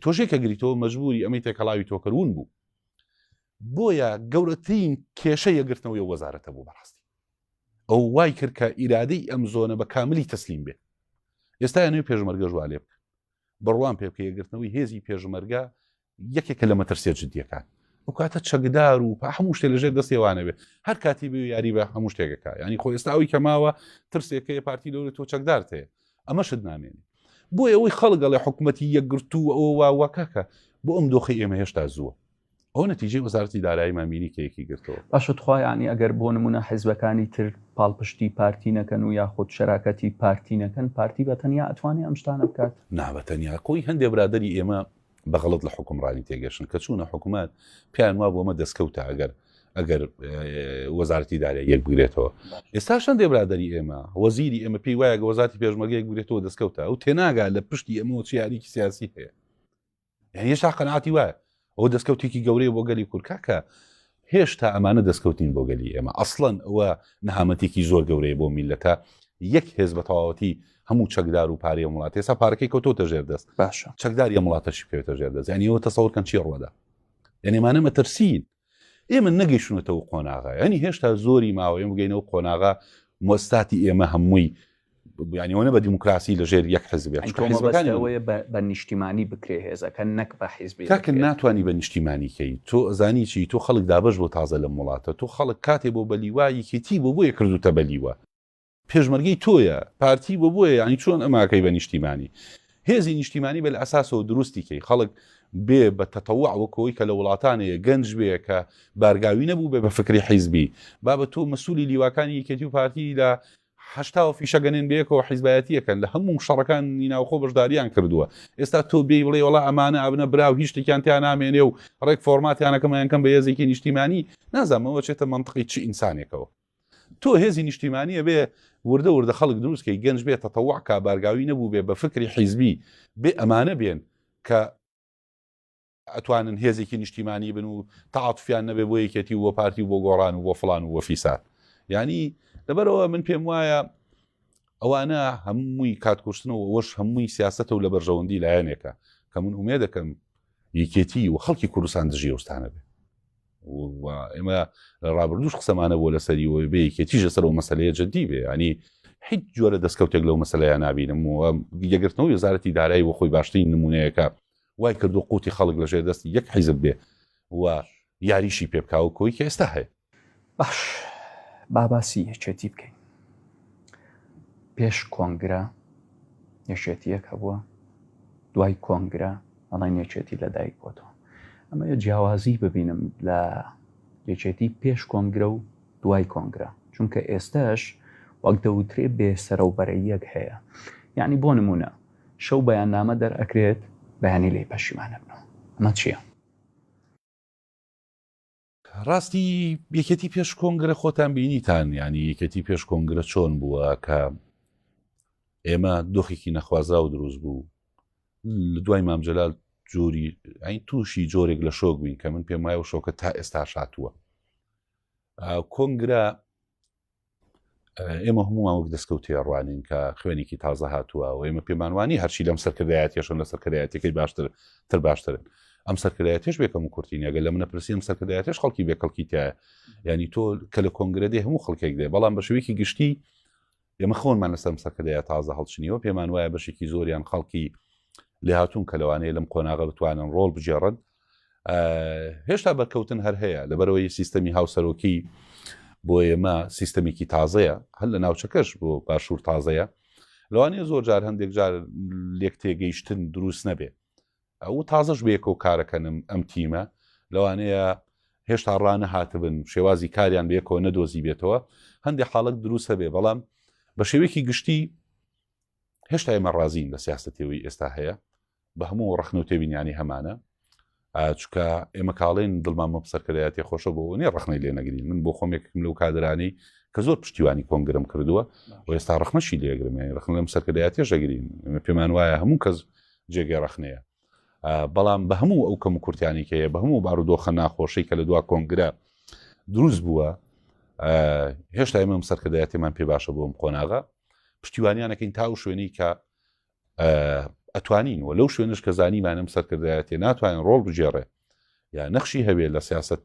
تۆشێک کە گریتەوە مەجبوری ئەمەی تێکەڵاوی تۆکردون بوو بۆیە گەورەترین کێشە یەگرتنەوەی وەزارەتە بوو بەڕاستی ئەو وای کرد کە ئیرادەی ئەم زۆنە بە کاملی تەسلیم بێ ئێستا نوێ پێشمەرگەژوا لێ بکە بڕوام پێ بکە یەکگرتنەوەی هێزی پێشمەرگە یەکێکە لە مەترسیە جددیەکان ئەو کاتە چەکدار و پا هەموو شتێ لەژێر دەستی وانەبێ هەر کاتی بێ یاری بە هەموو شتێکەکە ینی خۆ ئێستا ئەوی کەماوە ترسێکەیە پارتی لەوری تۆ چەکدارت هەیە ئەمە شت نامێنی بۆ ئەوەی خەڵگەڵێ حکوومەتتی یەکگرتو ئەوە واوەکەکە بۆ ئەم دۆخی ئێمە هێشتا زووە ئەو نەتیجەی وەزارەتی دارایی مامینی کە یەکی گرتەوە باشە توخوایانی ئەگەر بۆ نمونە حیزبەکانی تر پاڵپشتی پارتی نەکەن و یاخود شەراکەتی پارتی نەکەن پارتی بە تەنیا ئەتوانێت ئەم شتانە بکات نابە تەنیا کۆی هەندێ برادری ئێمە بەغڵت لە حکومڕانی تێگەشن کە چوونە حکوومەت پیان وا بۆمە دەستکەوتە ئەگەر ئەگەر وەزارتی دارە یەک بگرێتەوە ئێستا شەن دێبرادری ئێمە وەزیری ئێمە پێی وایە وەزارتی پێشمەگەیەک بگرێتەوە دەستکەوتە ئەو تێناگا لە پشتی ئەمەوە چیاریکی سیاسی هەیە یعنی هێشتا قەناتی وایە ئەو دەستکەوتێکی گەورەیە بۆ گەلی کورد کاکە هێشتا ئەمانە دەستکەوتین بۆ گەلی ئێمە ئەسڵەن ئەوە نەهامەتێکی زۆر گەورەیە بۆ میلەتە یەک هێز بە تەواوەتی هەموو چەکدار و پارەیە وڵات ێسا پارەکەی کەوتۆتە ژێر دەست باشە چەکداری وڵاتەشی پێێتە ژێر دەست یعنی ئەوە تەسەورکەن چی ڕوەدا یعنیمانە مەترسین ئێمە نەگەیشتونەتە و قۆناغا یعنی هێشتا زۆری ماوەێ بگەینە و قۆناغا مۆستاتی ئێمە هەمووی بیانیەوەە بە دیموکراسی لە ژێر یەک حزبەکانەوەی بە نیشتیمانی بکرێ هێزەکە نەک بە حیزبی تاکە ناتوانانی بە نیشتیمانیکەی تۆ ئەزانی چی تۆ خەڵک دابش بۆ تازە لە وڵاتە تۆ خەڵک کاتێ بۆ بەلیوایەکێتی بۆ بۆیە کردوتە بەلیوە پێشمەرگەی تۆیە پارتی بۆ بۆیە یانی چۆن ئەماکەی بە نیشتیمانی هێزی نیشتیمانی بە لەئەساسەوە دروستی کەی خەڵک بێ بە تەتەوع وەکۆی کە لە وڵاتانەیە گەنج بێ کە بارگاوی نەبوو بێ بە فکری حیزبی با بە تۆ مەسولی لیواکانی یەکێتی و پارتی لە حشتاوە فیشەگەنێن بەیەکەوە حیزبایەتیەکەن لە هەموو شەڕەکان نیناوخۆ بەشداریان کردووە ئێستا تۆ بێی بڵێ وڵا ئەمانە ئابنە براو هیچ شتێکیان تیا نامێنێ و ڕێک فۆرماتیانەکەمەیانکەم بە یەزێکی نیشتیمانی نازانمەوە چێتە منطقی چی ئینسانێکەوە تۆ هێزی نیشتیمانیە بێ وردە وردە خەڵک دروست کەی گەنج بێ تەتەوع کا بارگاوی نەبوو بێ بە فکری حیزبی بێ ئەمانە بێن کە ئەتوانن هێزێکی نیشتیمانی بن و تاعاتفیان نەبێ بۆ یەکێتی و بۆ پارتی و بۆ گۆڕان و بۆ فلان و وەفیسات ینی لەبەرەوە من پێم وایە ئەوانە هەمووی کاتکوشتنەوە وەش هەمووی سیاستە و لە بەرژەوەندی لایەنێکە کە من ئومێ دەکەم یەکێتی و خەڵکی کوردستان دژی ئەوستانە بێ ئێمە لە ڕابردوش قسەمانە بۆ لەسەری و بێ یەکێتیش لەسەر و مەسلەیە جددی بێ ینی هیچ جۆرە دەستکەوتێک لەو مەسلەیە نبینم و یەگرتنەوە وزارەتی دارایی وە خۆی باشترین نمونەیەەکە وای کردو قوتی خەڵک لەژێر دەستی یەک حیزب بێ و یاریشی پێبکاو کۆی ئێستا هەیە باش باباسی یەکێتی بکەین پێش کۆنگرە یەکێتیەک هەبووە دوای کۆنگرە ئەڵێن یەکێتی لەدایک بۆتەوە ئەمە یە جیاوازی ببینم لە یەکێتی پێش کۆنگرە و دوای کۆنگرە چونکە ئێستاش وەک دەوترێ بێسەرە و بەرەیەک هەیە یعنی بۆ نمونە شەو بەیان نامە دەرئەکرێت بەیانی لی پەشیمانە بنەوە ئەمە چییە؟ ڕاستی یەکێتی پێش کۆنگرە خۆتان بینیتان یعنی یەکێتی پێش کۆنگرە چۆن بووە کە ئێمە دۆخێکی نەخوازراو دروست بوو لە دوای مامجلال جۆری ئەین تووشی جۆرێک لە شۆک بووین کە من پێم وایە و شۆکە تا ئێستا شاتووە کۆنگرە ئێمە هەمووان وەک دەستکەوتێ ڕوانین کە خوێنێکی تازە هاتووە و ئێمە پێمانوانی هەرچی لەم سەرکردایەتێشم لە سەرکردایەتەکەی باشتر تر باشترن ئەم سەرکردایەتێش بێکەم و کورتین ئەگە لە منە پرسی ئەم سەرکردایەتێش خەڵکی بێ کەڵکی تایە ینی تۆ کە لە کۆنگرە دێ هەموو خەڵکێک دێ بەڵام بە شوێکی گشتی ئێمە خۆنمان لەسەم سەرکردایە تازە هەڵچنیەوە پێمان وایە بەشێکی زۆریان خەڵکی لێهاتون کە لەوانەیە لەم قۆناغە بتوانن ڕۆڵ بجێڕن هێشتا بەرکەوتن هەر هەیە لەبەرەوەی سیستەمی هاوسەرۆکی بۆ ئێمە سیستەمێکی تازەیە هەر لە ناوچەکەش بۆ باشوور تازەیە لەوانەیە زۆر جار هەندێک جار لێک تێگەیشتن دروست نەبێ ئەو تازەش بێکۆ کارەکەنم ئەم تیمە لەوانەیە هێشتا ڕانە هاتبن شێوازی کاریان بێکۆ نەدۆزی بێتەوە هەندێک حاڵک دروستە بێ بەڵام بە شێوەیەکی گشتی هێشتا ئێمە ڕازین لە سیاستەتەوەی ئێستا هەیە بە هەموو ڕخن و تێبینیانی هەمانە چکە ئێمە کاڵێن دڵمان مە سەرکردایەتی خۆشە بۆ نیە ڕخنەی لێ نەگرین من بۆ خۆمێکم لەو کادرانی کە زۆر پشتیوانی کۆنگرم کردووە و ئێستا ڕخنەشی لێگرم یانی ڕخن لەم سەرکردایەتێش دەگرین پێمان وایە هەموو کەس جێگەی ڕخنەیە بەڵام بە هەموو ئەو کەم کورتانی کە بە هەموو بارودۆخە ناخۆشی کە لە دوا کۆنگرە دروست بووە هێشتا ئێمەم سەرکردایەتیمان پێ باشە بۆم قۆناغە پشتیوانیانەکەین تا و شوێنی کە ئەتوانین و لەو شوێنش کە زانیمانم سەرکردایەتێ ناتوانین ڕۆڵ بگێڕێ یا نەخشی هەبێت لە سیاست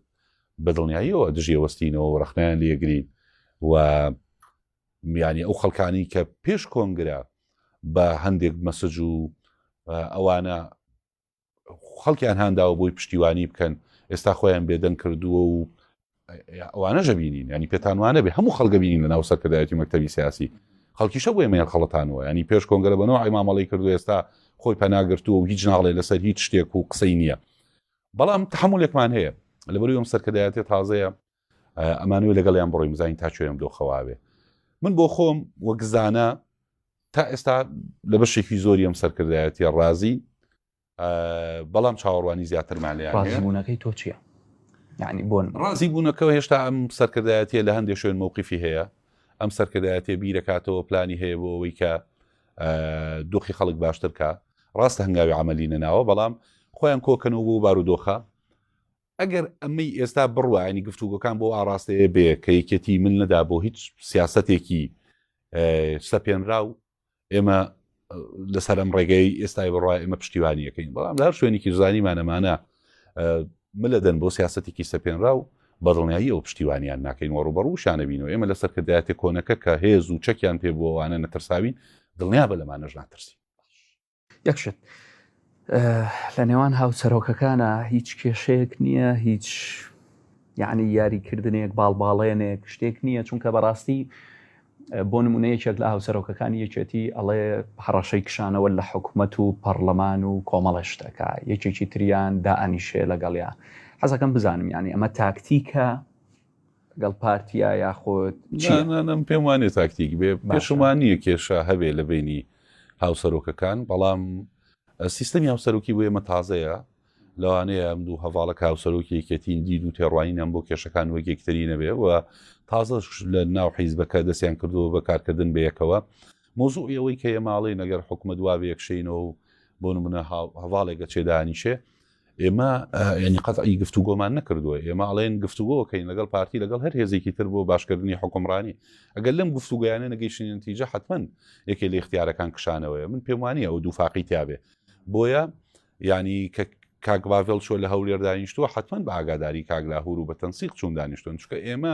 بەدڵنیاییەوە دژێوەستینەوە ڕخنیان لێگرین و یانی ئەو خەڵکانی کە پێش کۆنگرە بە هەندێک مەسج و ئەوانە خەڵکیان هانداوە بۆی پشتیوانی بکەن ئێستا خۆیان بێدەنگ کردووە و ئەوانە ژەبینین ینی پێتانوانە بێ هەموو خەڵگە بینین لە ناو سەرکردایەتی مەکتتەبی سیاسی خەڵکیشە بۆ ئێمەیان خەڵەتانەوە ینی پێش کۆنگەرە بەەوە ئەیمامەڵی کردو ئێستا خۆی پەناگرتووە و هیچ ناڵێ لەسەر هیچ شتێک و قسەی نییە بەڵام تحملێکمان هەیە لەبەروی ئەم سەرکردایەتی تازەیە ئەمانەوێ لەگەڵیان بڕۆین بزانین تا کوێم دۆخەواوێ من بۆ خۆم وەگزانە تا ئێستا لە بەشێکی زۆری ئەم سەرکردایەتە ڕازی بەڵام چاوەڕوانی زیاترمان لە ڕازیبوونەکەی تۆ چییە؟ یعنی بۆن ڕازی بوونەکەەوە هێشتا ئەم سەرکردایەتە لە هەندێک شوێن مووقیفی هەیە ئەم سەرکردایەتێ بیرەکاتەوە پلانی هەیە بۆ ئەوەی کە دۆخی خەڵک باشترکە ڕاستە هەنگاوی عملی نەناوە بەڵام خۆیان کۆکەنەوە بۆ بارودۆخە ئەگەر ئەمەی ئێستا بڕوا ینی گفتوگۆکان بۆ ئاراستەیە بێ کە یەکێتی من نەدا بۆ هیچ سیاستێکی سەپێنرا و ئێمە لەسەر ئەم ڕێگەی ئێستای بڕای ئمە پشتیوانیەکەین بەڵام لە هەر شوێنێکی زانیمانەمانە ملە دەن بۆ سیاستێکی سەپێنرا و بەدڵنیایی ئەو پشتیوانیان ناکەین وە ڕوبەڕوشانەبین و ئێمە لە سەرکردایەتە کۆنەکە کە هێز و چەکیان پێ بووانە نەترساوین دڵنیا بە لەمانەش ناترسی یەک شت لە نێوان هاوسەرۆکەکانە هیچ کێشەیەک نییە هیچ یعنی یاریکردنێک باڵباڵێنێک شتێک نییە چونکە بەڕاستی بۆ نمونەیەکێک لە هاوسەرۆکەکانی یەکێتی ئەڵێ هەڕەشەی کشانەوە لە حکوومەت و پەرلەمان و کۆمەڵە شتەکە یەکێکی تریان دائنیشێ لەگەڵیا حەزەکەم بزانم یعنی ئەمە تاکتیکە گەڵ پارتیا یاخود من پێم وانێ تاکتیک بێ باشمان نییە کێشە هەبێ لە بینی هاوسەرۆکەکان بەڵام سیستەمی هاوسەرۆکی بۆ ئێمە تازەیە لەوانەیە ئەم دوو هەواڵە کاوسەرۆکی یەکێتین دید و تێڕوانینەم بۆ کێشەکان وەگێکتری نەبێ و تازەش لە ناو حیزبەکە دەستیان کردووە بە کارکردن بەیەکەوە مۆزوو ئەوەی کە ئێماڵی نەگەر حکومە دوا بەیەکشینەوە و بۆ منە هەواڵێکە چێدانیشێ ئێمە ینی قەتعی گفتوگۆمان نەکردووە ئێمە ئەڵێن گفتوگۆکەین لەگەڵ پارتی لەگەڵ هەر هێزێکی تر بۆ باشکردنی حکومڕانی ئەگەر لەم گفتوگویانە نەگەیشتن تیجە حتمما یەکێ لە اختیارەکان کشانەوەی من پێموانی ئەو دوو فاقی تابێ بۆیە ینی کە کاک باڤێل چۆ لە هەولێر دانیشتووە حتمما بە ئاگاداری کاگلاهور و بە تەنسیق چوون دانیشتون چکە ئێمە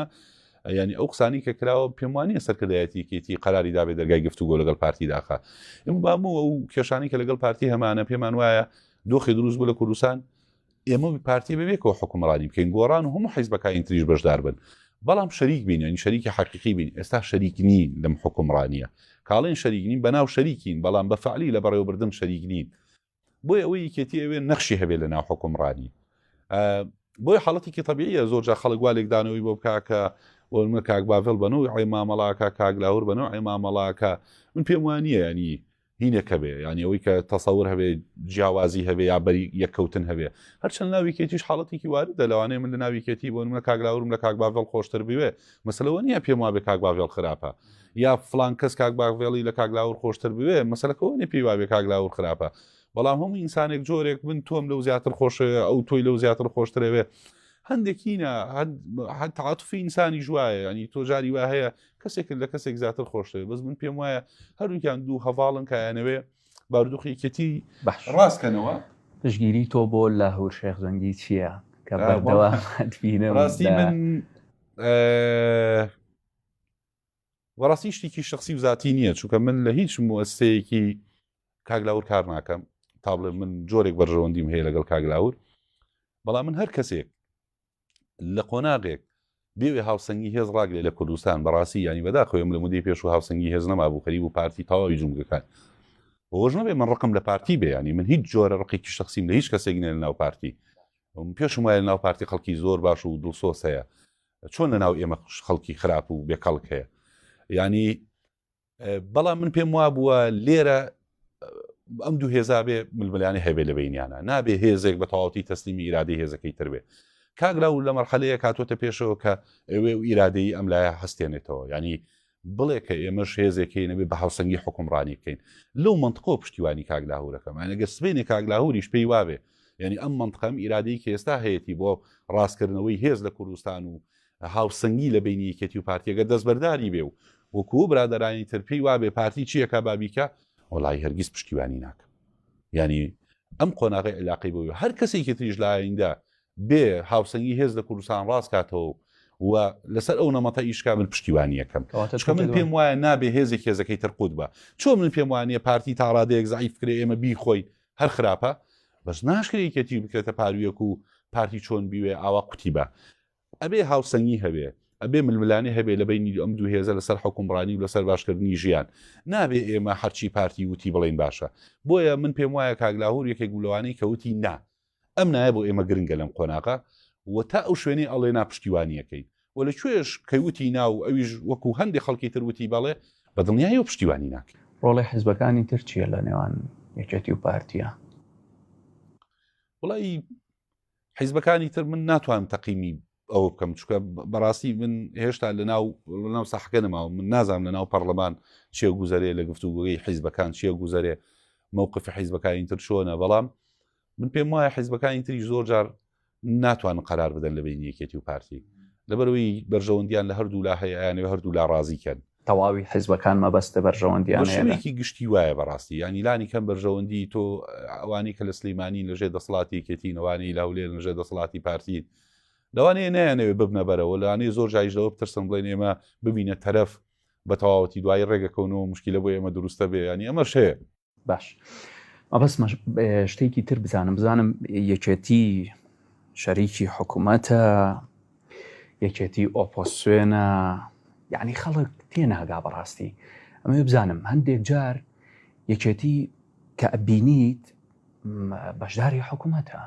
ینی ئەو قسانی کە کراوە پێموانیە سەرکردایەتیکێتی قراری دابێت دەرگای گفتوگۆ لەگەڵ پارتی داخە ئەم بامەوە ئەو کێشانی کە لەگەڵ پارتی هەمانە پێمان وایە دۆخێ دروست بوو لە کوردستان ئێمە پارتی بەبێکەوە حکومڕانی بکەین گۆڕان و هەموو حیزبەکانی تریش بەشدار بن بەڵام شەریک بین ینی شەریکی حەقیقی بین ئێستا شەریک نین لەم حکومڕانیە کاڵێن شەریک نین بەناو شەریکین بەڵام بە فعلی لە بەڕێوەبردن شەریک نین بۆی ئەوەی یەکێتی ئەوێ نەخشی هەبێ لە ناو حکومڕانی بۆی حاڵەتێکی طببیە زۆر جا خەڵک وا لێکدانەوەی بۆ بکاکە وەمە کاک باڤل بەنەوە ئەی مامەڵاکە کاگلاور بەنەوە ئەی مامەڵاکە من پێم وانە ینی دینێک هەبێ یان ئەوەی کە تەسەور هەبێ جیاوازی هەبێ یا بەری یەککەوتن هەبێ هەرچەند ناویکێتیش حاڵەتێکی وارد دە لەوانەیە من لە ناویکێتی بۆ منە کاگلاورم لە کاکباڤڵ خۆشتر بوێ مەسلەوە نییە پێم وابێ کاکباڤێڵ خراپە یا فلان کەس کاکباغڤێڵی لە کاگلاور خۆشتر بوێ مەسلەکەەوە نە پێی وابێ کاگلاور خراپە بەڵام هەموو ئینسانێک جۆرێک من تۆم لەو زیاتر خۆشەوێ ئەو تۆی لەو زیاتر خۆشترەوێ هەندێکینە هەتعااتفی ئینسانی ژواایە ینی تۆجاری وا هەیە کەسێکت لە کەسێک زیاتر خۆشەوێ بەس من پێم وایە هەروکیان دوو هەواڵن کایانەوێ باردوخیکەتی بەڕاستکەنەوە پشگیری تۆ بۆ لە هەور شێخ جەنگی چییە کە بەردەوە ڕاستی من وەڕاستی شتێکی شخصی وزاتی نییە چونکە من لە هیچ موەسەیەکی کاگلاور کار ناکەم تا بڵێ من جۆرێک بەرژەوەندیم هەیە لەگەڵ کاگلاور بەڵام من هەر کەسێک لە قۆناغێک بێ هاوسەنگی هێز ڕاگرێ لە کوردستان بەڕاستی یانی بەداخەوێم لە مدەی پێش و هاوسەنگی هێز نەمابوو خەریب و پارتی تەواوی جومگەکان ئەوەش نەبێ من ڕقم لە پارتی بێیانی من هیچ جۆرە ڕقێکی شخصیم لە هیچ کەسێک نێ لە ناو پارتی پێشم وایە ناو پارتی خەڵکی زۆر باش و دڵسۆس هەیە چۆن لە ناو ئێمە خەڵکی خراپ و بێکەڵک هەیە ینی بەڵام من پێم وا بووە لێرە ئەم دوو هێزابێ ململانی هەبێ لە بینیانە نابێ هێزێک بە تەواوتی تەسلیمی ئیرادی هێزەکەی تربێ کاگرا و لە مەرحەلەیە کاتۆتە پێشەوە کە ئەوێ و ئیرادەی ئەم لایە هەستێنێتەوە ینی بڵێ کە ئێمەش هێزێکی نەبێ بە هاوسەنگی حکومڕانی بکەین لەو منطقۆ پشتیوانی کاگلاهورەکەم ئەگە سبێنێ کاگلاهوریش پێی وابێ یعنی ئەم منطقەم ئیرادەی کە ئێستا هەیەی بۆ ڕاستکردنەوەی هێز لە کوردستان و هاوسەنگی لە بەینی یەکێتی و پارتی گەر دەستبەرداری بێ و وەکوو برادەرانی تر پێی وابێ پارتی چی ئەکا با بیکا وەڵایی هەرگیز پشتیوانی ناکەم یانی ئەم قۆناغی عیلاقەی بۆی هەر کەسێکی تریش لە ئاییندا بێ هاوسەنگی هێز لە کوردستان ڕاست کاتەوە و لەسەر ئەو نەمەتە ئیشکا من پشتیوانیەکەم چکە من پێم وایە نابێ هێزێک هێزەکەی ترقوت بە چۆن من پێم وانە پارتی تاڕادەیەک زعیف کرێ ئێمە بیخۆی هەر خراپە بەس ناشکرێکێتی بکرێتە پارویەک و پارتی چۆن بیوێ ئاوا قوتی بە ئەبێ هاوسەنگی هەبێ، ئەبێ ململانێ هەبێ لە بەینی ئەم دوو هێزە لەسەر حوکمڕانی و لەسەر باشکردنی ژیان. نابێ ئێمە هەرچی پارتی وتی بڵێین باشە. بۆیە من پێم وایە کاک لاهور یەکێک بوو لەوانەی کە وتی نا ئەم نایە بۆ ئێمە گرنگە لەم قۆناغە و تا ئەو شوێنەی ئەڵێ نا پشتیوانی ئەکەین و لە کوێش کە وتی نا و ئەویش وەکوو هەندێ خەڵکی تر وتی بەڵێ بە دڵنیایەوە پشتیوانی ناکەین. ڕۆڵی حزبەکانی تر چییە لە نێوان یەکێتی و پارتییە؟ وەڵایی حیزبەکانی تر من ناتوانم تەقیمی ئەوە بکەم چکە بەڕاستی من هێشتا لە ناو ناو ساحەکە نەماوە من نازام لە ناو پەرلەمان چێ گوزارێ لە گفتوگوی حیزبەکان چێ گوزارێ مووقفی حیزبەکانی تر چۆنە بەڵام من پێم وایە حیزبەکانی تری زۆر جار ناتوان قرار بدەن لە بین یەکێتی و پارتی لەبەروی بەرژەوەندیان لە هەردوو لا هەیەیان و هەردوو لا ڕازیکەن تەواوی حیزبەکان مەبەستە بەرژەوەندیان هەیە لە. بەشێوەیەکی گشتی وایە بەڕاستی یانی لانی کەم بەرژەوەندی تۆ ئەوانەی کە لە سلیمانین لەژێر دەسڵاتی یەکێتین ئەوانەی لە هەولێرن لەژێر دەسڵاتی پارتین لەوانەیە نەیانەوێ ببنە بەرەوە لەوانەیە زۆر جایش لەوە بترسن بڵێن ئێمە ببینە تەرەف بە تەواوەتی دوایی ڕێگەکەونەوە مشکلە بۆ ئێمە دروستە بێ ینی ئەمەش هەیە باش مەبەست شتێکی تر بزانم بزانم یەکێتی شەریکی حکوومەتە یەکێتی ئۆپۆسیۆنە یعنی خەڵک تێناگا بەڕاستی ئەمە بزانم هەندێک جار یەکێتی کە ئەبینیت بەشداری حکوومەتە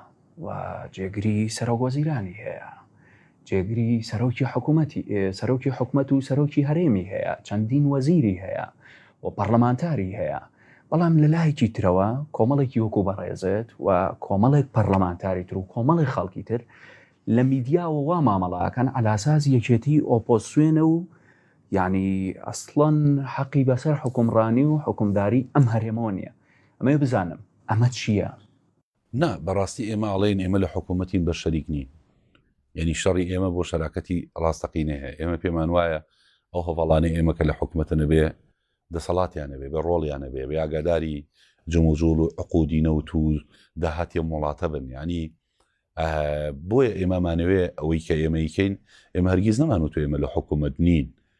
و جێگری سەرۆک وەزیرانی هەیە، جێگری سەرۆکی حکوومەتی سەرۆکی حکومەت و سەرۆکی هەرێمی هەیە، چەندین وەزیری هەیە و پەرلەمانتاری هەیە، بەڵام لە لایەکی ترەوە کۆمەڵێکی وەکو بەڕێزت و کۆمەڵێک پەرلەمانتاری تر و کۆمەڵێک خەڵکی تر لە میدیاوە وا مامەڵەکەن عەلاساس یەکێتی ئۆپۆسیۆنە و یعنی ئەسڵەن حەقی بەسەر حکومڕانی و حکومداری ئەم هەرێمەوە نییە ئەمەی بزانم ئەمە چییە؟ نا بەڕاستی ئێمە ئەڵێین ئێمە لە حکوومەتین بەس شەریک نین یانی شەڕی ئێمە بۆ شەراکەتی ڕاستەقینە هەیە ئێمە پێمان وایە ئەو هەڤاڵانەی ئێمە کە لە حکوومەتە نەبێ دەسەڵاتیان نەبێ بە ڕۆڵیان نەبێ بێ ئاگاداری جموجوڵ و عقودی نەوت و داهاتی وڵاتە بن ینی بۆیە ئێمەمانەوێ ئەوەی کە ئێمەیکەین ئێمە هەرگیز نەمان و تو ئێمە لە حکوومەت نین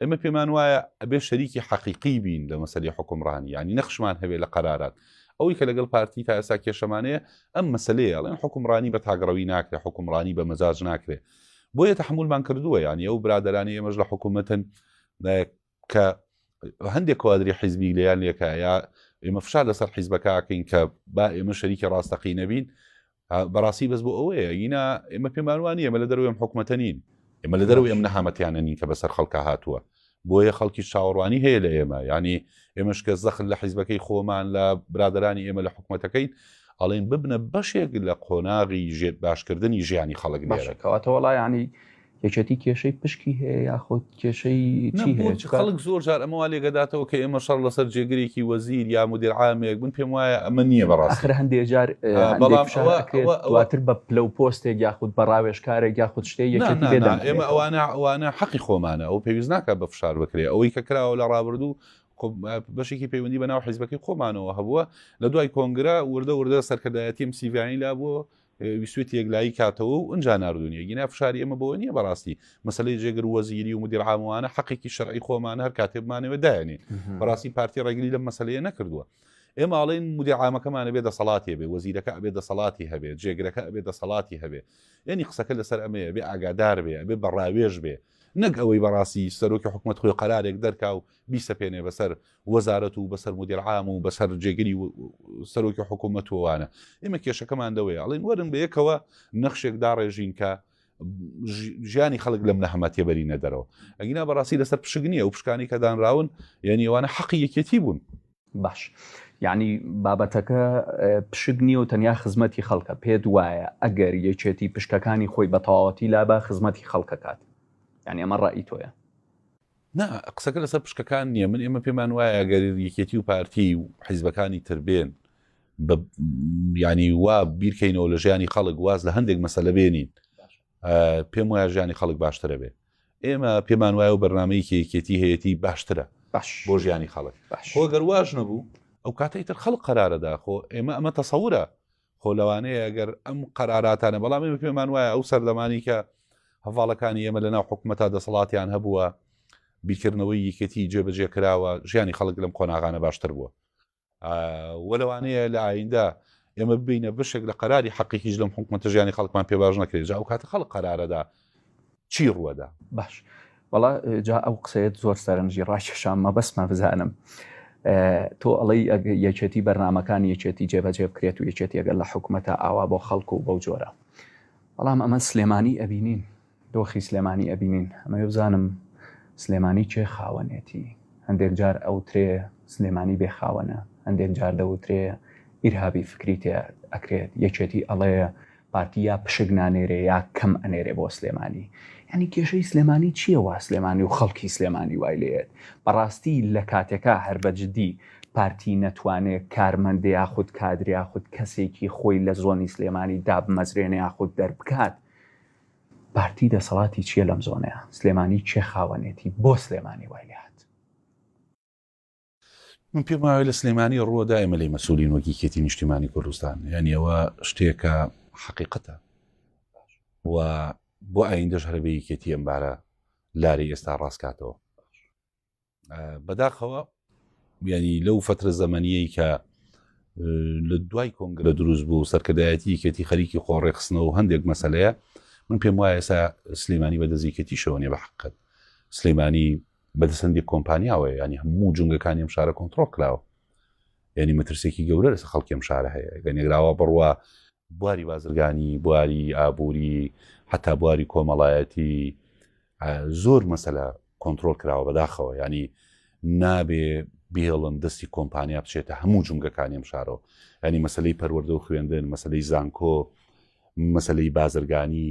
ئێمە پێمان وایە ئەبێ شەریکی حەقیقی بین لە مەسەری حکومڕانی ینی نەخشمان هەبێ لە قەرارات ئەوەی کە لەگەڵ پارتی تا ئێسا کێشەمانەیە ئەم مەسلەیە ئەڵێن حکومڕانی بە تاگەڕەوی ناکرێت حکومڕانی بە مەزاج ناکرێت بۆیە تحملمان کردووە ینی ئەو برادرانی ئێمەش لە حکوومەتن کە هەندێک کوادری حیزبی لەیان لێکایە ئێمە فشار لەسەر حیزبەکەکەین کە با ئێمە شەریکی ڕاستەقی نەبین بەڕاستی بەس بۆ ئەوەیە ینا ئێمە پێمان وانە ئێمە لە دەروێم حکوومەتە نین ئێمە لە دەرو ئێم نەهامەتیانە نین کە بەسەر خەڵکە هاتووە بۆیە خەڵکی چاوەڕوانی هەیە لە ئێمە ینی ئێمەش کە زەخل لە حیزبەکەی خۆمان لە برادرانی ئێمە لە حکوومەتەکەین ئەڵێن ببنە بەشێک لە قۆناغی ژێت باشکردنی ژیانی خەڵک باشەکەواتەوەڵا ینی یەکێتی کێشەی پشکی هەیە یاخود کێشەی چی هەیە؟ نەبوو خەڵک زۆر جار ئەمە وا لێگەداتەوە کە ئێمە شەڕ لەسەر جێگرێکی وەزیر یا مدیر عامێک من پێم وایە ئەمە نییە بەڕاستی. ئاخر هەندێک جار ئەندێک بەڵام فشار ئەوە- ئەکرێت ئەوە- دواتر بە پلە و پۆستێک یاخود بە ڕاوێژکارێک یاخود شتێک نا یەکێتی نا لێ نا ئێمە دەمێنێتەوە. ئەوانە ئەوانە حەقی خۆمانە ئەو پێویست ناکات بە فشار بکرێ ئەوەی کە کراوە لە ڕابردوو خۆ بەشێکی پەیوەندی بە ناو حیزبەکەی خۆمانەوە هەبووە لە دوای کۆنگرە وردە وردە سەرکردایەتیم سیڤانی لابووە ویستوێتی یەکلایی کاتەوە و ئەجا نردونیە گینا فشاری ئەمە بەوە نییە بەڕاستی مەسلەی جێگر وەزیری و مدیر عاموانە حقێکی شەرعی خۆمان هەر کاتێ بمانەوە داێنێ بەڕاستی پارتی ڕێگری لە مەسلەیە نەکردووە ئێماڵین مدیعامەکەمانە بێ دەسەڵاتی بێ وەزیرەکە ئەبێ دەسەڵاتی هەبێ جێگرەکە ئەبێ دەسەڵاتی هەبێ یعنی قسەکە لەسەر ئەمەیە بێ ئاگادار بێ ئەبێ بەڕاوێژ بێ نەک ئەوەی بەڕاستی سەرۆکی حکوومەت خۆی قەرارێک دەرکا و بیسەپێنێ بەسەر وەزارەت و بەسەر مدیر عام و بەسەر جێگری سەرۆکی حکوومەت وانە ئێمە کێشەکەمان دەوەیە ئەڵین وەرن بە یەکەوە نەخشێک داڕێژین کە ژیانی خەڵک لەم نەهمە تێبەری نەدەرەوە ئەگینا بەڕاستی لەسەر پشک نییە و پشکانی کە دانراون یعنی ئەوانە حەقی یەکێتی بوون باش یعنی بابەتەکە پشک نییە و تەنیا خزمەتی خەڵکە پێت وایە ئەگەر یەکێتی پشکەکانی خۆی بە تەواوەتی لابا خزمەتی خەڵکەکات یعنی ئەمە ڕای تۆیە نا قسەکە لەسەر پشکەکان نیە من ئێمە پێمان وایە گەر یەکێتی و پارتی و حیزبەکانی تر بێن بە ینی وا بیرکەینەوە لە ژیانی خەڵک واز لە هەندێک مەسەلە بێنین پێم وایە ژیانی خەڵک باشترە بێ ئێمە پێمان وایە و بەرنمەی کێکێتی هەیەی باشترە باش بۆ ژیانی خەڵک خۆگەر واش نەبوو ئەو کاتەی تر خەڵک قرارە داخۆ ئێمە ئەمە تەسەورە خۆ لەوانەیە ئەگەر ئەم قەراراتانە بەڵام ئێمە پێمان وایە ئەو سەردەمانی کە هەواڵەکانی ئێمە لەناو حکوومەتە دەسەڵاتیان هەبووە بیکردنەوەی یەکێتی جێبەجێ کراوە ژیانی خەڵک لەم قۆناغانە باشتر بووە وە لەوانەیە لە ئایندا ئێمە ببینە بشێک لە قەراری حەقیکیش لەم حکوومەتە ژیانی خەڵکمان پێ باش نەکرێت جا ئەو کاتە خەڵک قەرارەدا چی ڕوەدا؟ باش وەڵا جا ئەو قسەیەت زۆر سەرنجی ڕاکێشام مەبەستمە بزانم تۆ ئەڵەی یەکێتی بەرنمەکان یەکێتی جێبەجێ بکرێت و یەکێتی ئەگەر لە حکوومەتە ئاوا بۆ خەڵکو و بەو جۆرە بەڵام ئەمە سلێمانی ئەبینین دۆخی سلێمانی ئەبینین ئەمە بزانم سلێمانی چێ خاوەنێتی هەندێک جار ئەو ترێ سلێمانی بێ خاوەنە هەندێک جار دەوترێ ئیرهابی فکری تێ ئەکرێت یەکێتی ئەڵەیە پارتی یا پشک نانێرێ یا کەم ئەنێرێ بۆ سلێمانی یانی کێشەی سلێمانی چییە وا سلێمانی و خەڵکی سلێمانی وای لێت بەڕاستی لە کاتێکا هەر بە جدی پارتی نەتوانێ کارمەندێ یاخود کادریا خود کەسێکی خۆی لە زۆنی سلێمانی دابمەزرێنێ یاخود دەربکات پارتی دەسەڵاتی چییە لەم زۆنەیە سلێمانی کێ خاوەنێتی بۆ سلێمانی وای لێ من پێم وایە لە سلێمانی ڕووە دایمە لەی مەسولین وەک یەکێتی نیشتیمانی کوردستان یعنی ئەوە شتێکە حقیقەتە و بۆ ئایندەش هەربێ یەکێتی ئەمبارە لاری ئێستا ڕاستکاتەوە بەداخەوە ینی لەو فترە زەمەنیەی کە لە دوای کۆنگرە دروست بوو سەرکردایەتی یەکێتی خەریکی خۆڕێخستنەوە هەندێک مەسلەیە من پێم وایە ئێستا سلێمانی بە دەزیکێتی شەوەنیە بە حقت سلێمانی بەدەست هەندێک کۆمپانیاوەیە ینی هەموو جونگەکانی ئەم شارە کۆنتترۆل کراوە ینی مەترسێکی گەورە لەسە خەڵکیم شارە هەیە گە نێگراوە بڕوە بواری بازرگانی بواری ئابووری حتا بواری کۆمەڵایەتی زۆر مەسەلە کۆنتترۆل کراوە بەداخەوە ینی نابێ بێڵن دەستی کۆمپانیا بچێتە هەموو جونگەکانیم شارۆ ینی مەسلەی پەروەەردە و خوێندن مەسلەی زانکۆ مەسلەی بازرگانی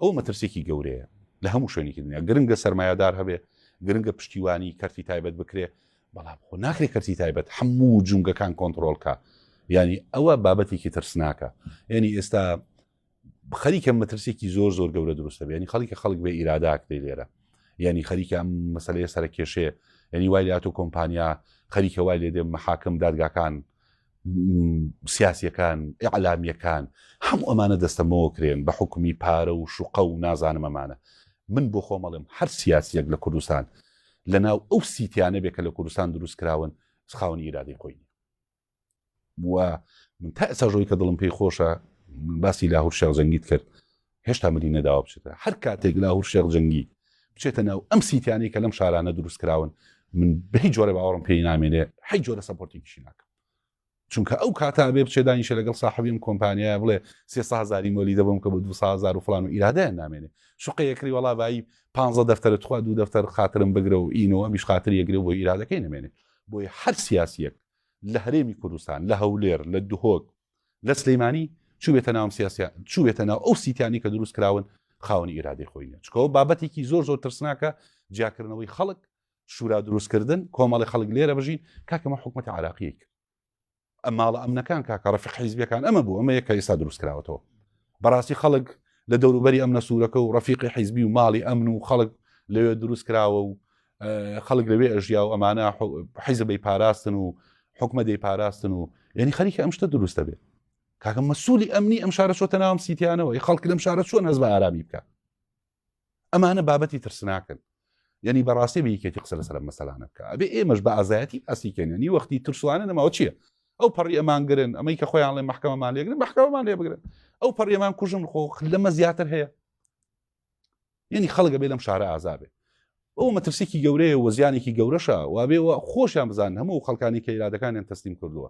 ئەوە مەترسیەکی گەورەیە لە هەموو شوێنێکی دنیا گرنگە سەرمایەدار هەبێ گرنگە پشتیوانی کەرتی تایبەت بکرێ بەڵام خۆ ناکرێ کەرتی تایبەت هەموو جونگەکان کۆنتترۆلکە ینی ئەوە بابەتێکی ترسناکە ینی ئێستا خەریکە مەترسێکی زۆر زۆر گەورە دروستە بێنی خەڵکە خەڵک بێ ئیراداک دەی لێرە ینی خەریکە ئەم مەسلەیە سەرکێشێ ینی وای لاتۆ کۆمپانیا خەریکە وای لێ دێ محاکم دادگاکان سیاسیەکان ئەعلامیەکان هەموو ئەمانە دەستەمەوە کرێن بە حکومی پارە و شوقە و نازانم ئەمانە من بۆ خۆمەڵێم هەر سیاسیەک لە کوردستان لە ناو ئەو سیتیانە بێ کە لە کوردستان دروست کراون خاونی ئیرادەی خۆی و من تا ئێستا ژۆی کە دڵم پێی خۆشە باسی لاهور شێخ جەنگیت کرد هێشتا ملی نەداوە بچێتە هەر کاتێک لاهور شێخ جەنگی بچێتە ناو ئەم سیتیانەی کە لەم شارانە دروست کراون من بەهی جۆرە باوەڕم پێی نامێنێ حی جۆرە سەپۆرتێکیشی ناکەم چونکە ئەو کاتا بێ بچێ دانیشە لەگەڵ ساحبیم کۆمپانیای بڵێ سێسە هزاری مۆلی دەبم کە بە دو هزار و فلان و ئیرادەیان نامێنێ شقە یەکری وڵا بایی پ دەفتەر تخوا دوو دەفتەر خاترم بگرە و ئینەوە میش خاتر یەگرێ بۆ ئیرادەکەی نمێنێ بۆی هەر سیاسیەک لە هەرێمی کوردستان لە هەولێر لە دهۆک لە سلیمانی چوبێتە ناوم سیاسیا چوبێتە ناو ئەو سیتیانی کە دروست کراون خاونی ئیرادەی خۆی نیە چکەوە بابەتێکی زۆر زۆر ترسناکە جیاکردنەوەی خەڵک شورا دروستکردن کۆمەڵی خەڵک لێرە بژین کاکەمە حکوومەت عراقیەک ئەم ماڵە ئەمنەکان کاکە ڕفق حیزبەکان ئەمە بوو ئەمە یەکە ئێستا دروست کراوەتەوە بەڕاستی خەڵک لە دەوروبەری ئەم نەسوورەکە و ڕفیقی حیزبی و ماڵی ئەمن و خەڵک لەوێ دروست کراوە و خەڵک لەوێ ئەژیا و ئەمانە حیزە بەی پاراستن و حکومە دەی پاراستن و یعنی خەریکە ئەم شتە دروستە بێت کاکە مەسوولی ئەمنی ئەم شارە چۆتە ناوم سیتیانەوە ی خەڵک لەم شارە چۆن هەز بە ئارامی بکە ئەمانە بابەتی ترسناکەن یعنی بەڕاستی بیکێتی قسە لەسەر مەسەلانە بکە ئەبێ ئێمەش بە ئازایەتی ئاسیکەێنی وەختی ترسوانە نەماوە چییە ئەو پەڕی ئەمان گرن ئەمەی کە خۆیان لێ محکەمەمان لێگرن محکەمان لێ بگرن ئەو پەڕێمان کوژم خۆ لەمە زیاتر هەیە یعنی خەڵگە بێ لەم شارە ئازابێ ئەو مەترسێکی گەورەیە وەزیانێکی گەورەشە وابێ و خۆشیان بزان هەموو خەڵکانی کە ئیرادەکانیان تەسلیم کردووە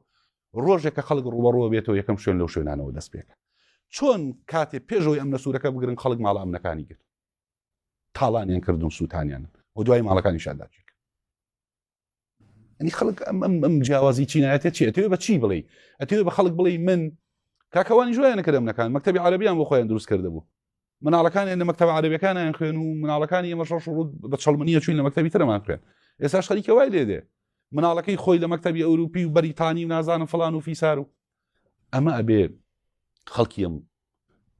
ڕۆژێک کە خەڵک ڕوبەڕۆ بێتەوە یەکەم شوێن لەو شوێنانەوە دەست پێکە چۆن کاتێ پێشەوەی ئەم نەسوورەکە بگرن خەڵک ماڵە ئەمنەکانی گرت تاڵانیان کردن سووتانیان و دوای ماڵەکانی شاداچێک ئەنی خەڵک ئەم ئەم ئەم جیاوازی چینایەتە چی ئەتوێ بە چی بڵێ ئەتوێ بە خەڵک بڵێ من کاکەوانی جوایان نەکردم نەکان مەکتتەبی عربیان بۆ خۆیان دروست کرده بوو مناڵەکان لە مەکتتەب عربەکانیان خوێن و مناڵەکانی ئەمە شەش ڕوود بە چڵمنیە چوین لە مەکتتەبی ترمان خوێن ئێساش خەریکە وای لێ دێ مناڵەکەی خۆی لە مەکتتەبی ئەوروپی و بەریتانی و نازانم فلان و فیسار و ئەمە ئەبێ خەڵکیم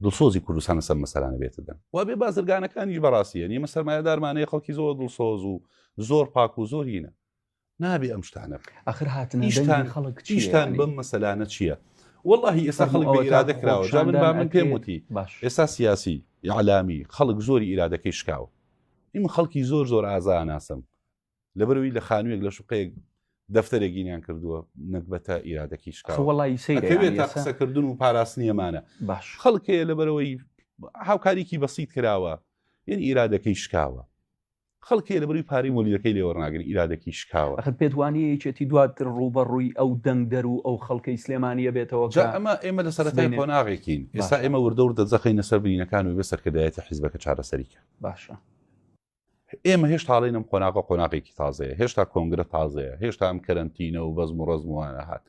دڵسۆزی کوردستان لەسەر مەسەلانە بێتە دەم و بێ بازرگانەکانیش بەڕاستی هەن ئێمە سەرمایەدارمانەیە خەڵکی زۆر دڵسۆز و زۆر پاک و زۆر هینە نابێ ئەم شتانە ئەخر هاتنیشتان خەڵک چیشتان بەم مەسەلانە چییە؟ واللهی ئێستا خەڵک بە ئیرادە کراوە جا من با من پێم وتی ئێستا سیاسی یعلامی خەڵک زۆری ئیرادەکەی شکاوە ئیمە خەڵکی زۆر زۆر ئازا ناسم لەبەروی لە خانوویەک لە شوقەیەک دەفتەرێک گینیان کردووە نەگبەتە ئیرادەکی شکاوەڵیسەیرێتە قسەکردن و پاراستنیەمانە باش خەڵکەیە لەبەرەوەی هاوکاریکی بەسییت کراوە یەن ئیرادەکەی شکاوە خەڵکی لە بەروی پارەی مۆلیەکەی لێوەڕناگەن ئیرادەکی شکاوە خە پێدوانی یەکێتی دواتر ڕووبە ڕووی ئەو دەنگدەر و ئەو خەڵکەی سلێمانە بێتەوە ئەمە ئێمە لە سەرەتای قۆناغێکین ئێستا ئێمە وردە وردە جەخینە سەر بینەکان و بە سەرکردایەتی حیزبەکە چارەسەریکە باشە ئێمە هێشت هاڵێنم قۆناغە قۆناغێکی تازەیە هێشتا کۆنگرە تازەیە هێشتا ئەم کەرەنتینە و بەزم و ڕزموانە هات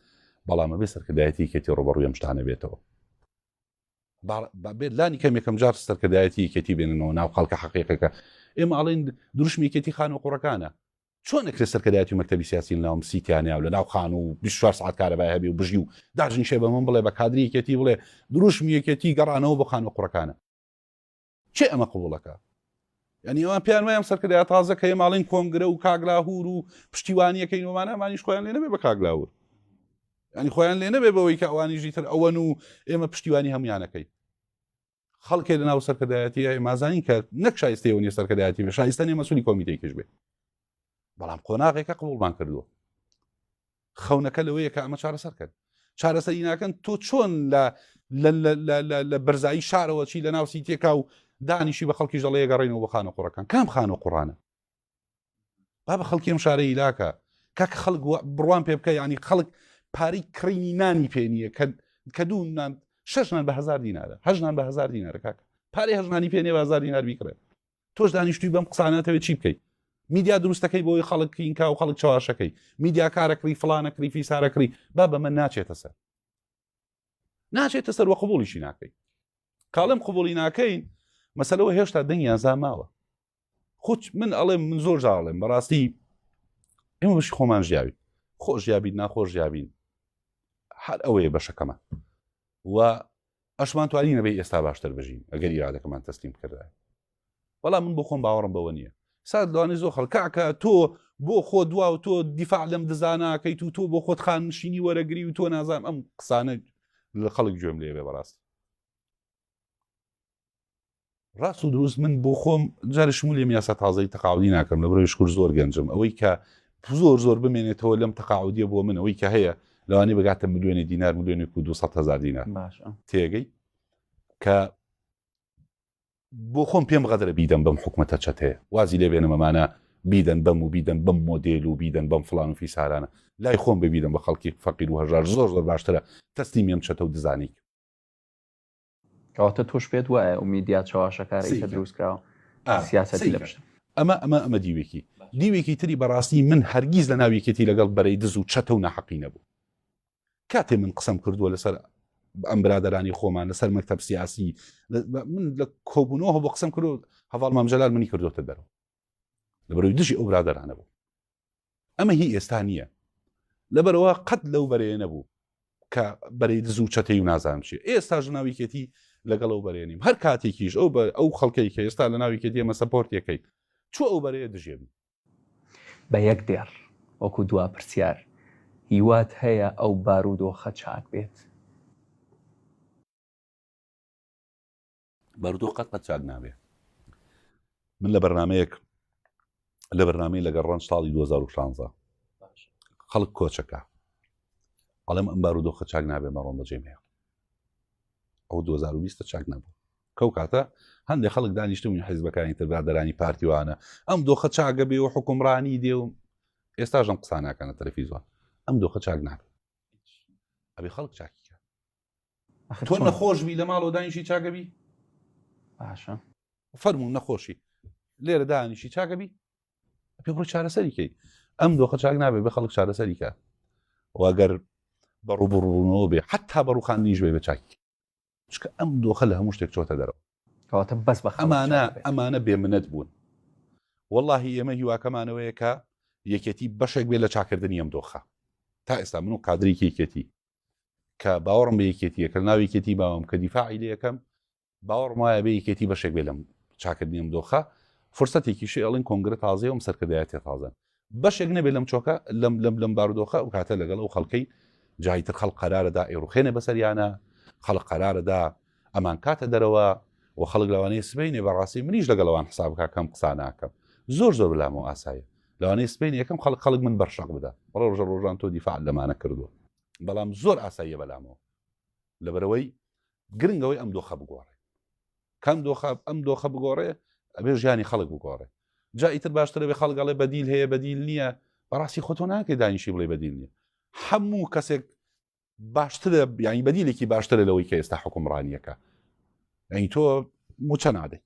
بەڵامە بێ سەرکردایەتی کێتی ڕۆبەڕوی ئەمشتانە بێتەوە بێت لانی کەم یەکەم جار سەرکردایەتی یەکێتی بێننەوە ناو خەڵکە حقیقەکە ئێمە ئاڵین دروشمێکێتی خان و قوڕەکانە چۆن نەکرێ سەرکردایەتی مەکتتەبی سیاسی ناوم سیتیانیا و لە ناو خان و 24 ساعت کارەبای هەبی و بژی و داژنیشێ بە من بڵێ بە کادریەکێتی بڵێ دروشم یەکێتی گەڕانەوە بۆ خان و قوڕەکانە کێ ئەمە قبوڵەکە یعنی ئەوان پێیان وایە سەرکردای تازە کە ماڵین کۆنگرە و کاگلاهور و پشتیوانیەکەی نۆمانە ئەمانیش خۆیان لێ نەبێ بە کاگلاور ینی خۆیان لێ نەبێ بەوەی کە ئەوانیژی تر ئەوەن و ئێمە پشتیوانی هەمویانەکەی خەڵکێ لە ناو سەرکردایەتی مازانین کە نەک شایستەوە نیە سەرکردایەتی بە شایستە نیە مەسولی کۆمیتێکیش بێ بەڵام قۆناغێکە قبولمان کردووە خەونەکە لەوەیە کە ئەمە چارەسەر کرد چارەسەری ناکەن تۆ چۆن لە لە بەرزایی شارەوە چی لە ناوسی تێکا و دانیشی بە خەڵکی ژەڵەیە گەڕێنەوە بە خانە قوڕەکان کام خان و قڕانە با بە خەڵکی ئەم شارەی لاکە کاک خەڵک بڕوان پێ بکە ینی خەڵک پارەی کڕینی نانی پێ نییە کە کە دوو نان شەشنان بە هزار دینارە هەژنان بە هزار دینارە کاکە پارەی هەژنانی پێ نێ بازار دینار بیکڕێت تۆش دانیشتوی بەم قساناتەوێت چی بکەیت میدیا دروستەکەی بۆی خەڵک کینکا و خەڵک چواشەکەی میدیا کارەکری فلانە کری فیسارەکری با بە من ناچێتە سەر ناچێتە سەر وە قبولیشی ناکەین کاڵم قبولی ناکەین مەسەلەوە هێشتا دەنگیان زاماوە خۆچ من ئەڵێم من زۆر جاڵێم بەڕاستی ئێمە بەشی خۆمان ژیاوی خۆش یابین ناخۆش یابین هەر ئەوەیە بەشەکەمان و ئەشمان توانی نەبەی ئێستا باشتر بژین ئەگەر ئیرادەکەمان تەسلیم بکردایە. بەڵام من بۆ خۆم باوەڕم بەوە نییە. سا دەوانی زۆر خەڵک کاکە تۆ بۆ خۆ دوا و تۆ دیفاع لەم دزا ناکەیت و تۆ بۆ خۆت خاننشینی وەرەگری و تۆ نازانم ئەم قسانە لە خەڵک گوێم لێ بێ بەڕاستی. ڕاست و دروست من بۆ خۆم جارشم لێم یاسا تازەی تەقاودی ناکەم لە برۆی شکر زۆر گەنجم ئەوەی کە زۆر زۆر بمێنێتەوە لەم تەقاعودیە بۆ من ئەوەی کە هەیە لەوانی بگاتە ملیۆنی دینار ملیۆنێک و 200 هزار دینار تێگەی کە بۆ خۆم پێم غەدرە بیدەم بەم حکوومەتە چەتەیە وازی لێ بێنمەمانە بیدەن بەم و بیدەن بەم مۆدیل و بیدەن بەم فلان و فیسارانە لای خۆم ببیدەم بە خەڵکی فەقیر و هەژار زۆر زۆر باشترە تەستی مێم چەتە و دزانیک کەواتە تۆش پێت وایە و میدیا چەواشەکارە ئیتر دروست کراوە سیاسەتی لە پشتە. ئەمە ئەمە ئەمە دیوێکی دیوێکی تری بەڕاستی من هەرگیز لە ناو یەکێتی لەگەڵ بەرەی دز و چەتە و ناحەقی نەبوو کاتێ من قسەم کردووە لەسەر ئەم برادرانی خۆمان لەسەر مەکتب سیاسی من لە کۆبوونەوە بۆ قسم کرد هەواڵ مامجلال منی کردوتە دەرەوە لە بەروی دژی ئەو برادرانە بوو ئەمە هی ئێستا نییە لەبەرەوە قەت لەو بەرەیە نەبوو کە بەرەی دز و چەتەی و نازانم چی ئێستا ژناویکێتی لەگەڵ ئەو بەرێنیم هەر کاتێکیش ئەو بە ئەو خەڵکەی کە ئێستا لە ناویکێت ئێمە سەپۆرتەکەی چۆ ئەو بەرەیە دژێبی بە یەک دێڕ وەکو دوا پرسیار هیوات هەیە ئەو بارودۆخە چاک بێت؟ بارودۆخ قەت قەت چاک نابێ من لە بەرنمەیەک لە بەرنامی لەگەڵ ڕەنج ساڵی 2016 خەڵک کۆچەکە ئەڵێم ئەم بارودۆخە چاک نابێ مەڕۆم بەجێ مێ ئەو 2020 چاک نەبوو کەو کاتە هەندێک خەڵک دانیشتون حیزبەکانی تربرادرانی پارتیوانە ئەم دۆخە چاگە بێ و حکومڕانی دێ و ئێستاژم قسانەکەە تەلەفیزوان ئەم دۆخە چاک نابێت ئەبێ خەڵک چاکیکە تۆ نەخۆشبی لە ماڵەوە دانیشی چاگەبی باشە فەرمو نەخۆشی لێرە دانیشی چاگەبی پێ بڕۆ چارەسەریکەی ئەم دۆخە چاک نابێت بە خەڵک چارەسەریکە واگەر بە ڕوبڕونەوە بێ حتا بە ڕوخان نیش بێ بە چاکی چکە ئەم دۆخە لە هەموو شتێک چۆتە دەرەوە کەواتە بەس بە ئەمانە ئەمانە بێ منەت بوون واللهی ئێمە هیواکەمانەوەیە کە یەکێتی بەشێک بێ لە چاکردنی ئەم دۆخە تا ئێستا من و قادری کێکێتی کە باوەڕم بە یەکێتی یەکە ناو یەکێتی باوەم کە دیفاعی لە یەکەم باوەڕم وایە بە یەکێتی بەشێک بێ لەم چاکردنیم دۆخە فرسەتێکی شێڵین کۆنگرە تازەیەم سەرکردایەتی تازەن بەشێک نەبێت لەم چۆکە لەم لەم لەم بارودۆخە و کاتە لەگەڵ ئەو خەڵکەی جاییتر خەڵ قەرارەدا ئێڕوخێنە بەسەریانە خەڵق قەرارەدا ئەمانکاتە دەرەوە و خەڵک لەوانەیە سبەینێ بەڕاستی منیش لەگەڵ ئەوان حساب بکات کە ئەم قسانە ئەکەم زۆر زۆر بەلامەوە ئاسایە لەوانەیە سبەینێ یەکەم خەڵک خەڵک من بەر شەق بدات بەڵێ ڕۆژە ڕۆژان تۆ دیفاع لەمانە کردووە بەڵام زۆر ئاساییە بەلامەوە لەبەرەوەی گرنگەوەی ئەم دۆخە بگۆڕێ کام دۆخە ئەم دۆخە بگۆڕێ ئەبێ ژیانی خەڵک بگۆڕێ جا ئیتر باشترە بێ خەڵگەڵێ بەدیل هەیە بەدیل نییە بەڕاستی خۆتۆ ناکەی دانیشی بڵێ بەدیل نییە هەموو کەسێک باشترە ینی بەدیلێکی باشترە لەوەی کە ئێستا حکومڕانیەکە ئەین تۆ موچە نادەی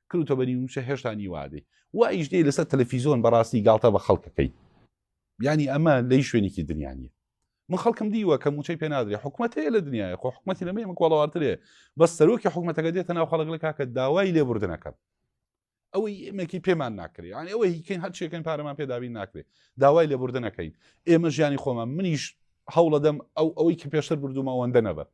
کردتە بەنی موچە هێشتا نیوادەی و ئیشدەی لەسەر تەلەفیزۆن بەڕاستی گاڵتە بە خەڵکەکەی ینی ئەمە لی شوێنێکی دنیاە من خەڵکم دیوە کە موچەی پێنادرێ حکوومەت هەیە لە دنیاە خۆ حکوومەتی لەمە مکوڵاواترێ بەس سەرۆکی حکوومەتەکە دێتە ناو خەڵک لە کاکە داوای لێبوردنەکەم ئەوەی ئێمەکی پێمان ناکرێت یان ئەوە هیکەین هەر چێکن پارەمان پێداوی ناکرێت داوای لە بردن نەکەین ئێمە ژیانی خۆمان منیش هەوڵەدەم ئەو ئەوەی کە پێشتر بردوومەوەندە نەبەر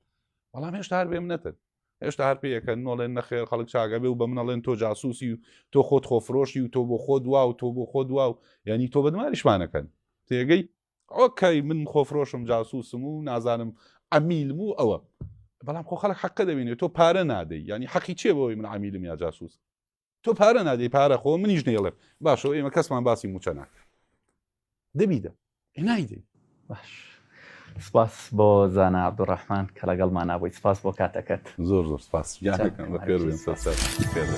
بەڵام هێشتا هەر بێم نەتن هێشتا هەر پێەکەن نۆڵێن نەخێر خەڵک چاگەبێ و بە منەڵێن تۆ جاسوسی و تۆ خۆت خۆفرۆشی و تۆ بۆ خۆ دوا و تۆ بۆ خۆ دوا و ینی تۆ بەدمانیشمانەکەن تێگەی ئۆکەی من خۆفرۆشم جاسوسم و نازانم ئەمیلم و ئەوە بەڵام خۆ خەڵک حەقە دەبینێت تۆ پارە نادەی ینی حەقی چێ بەوەی من ئەمیلم یا جاسوس تۆ پارە نادەی پارە خۆ منیش نێڵێ باشەوە ئێمە کەسمان باسی موچە ناکە دەبیدە نایدەی باش سپاس بۆ زانا عبدڕحمان کە لەگەڵمان نابووی سپاس بۆ کاتەکەت زۆر زۆر سپاس یاەکەم بە پێ پێ.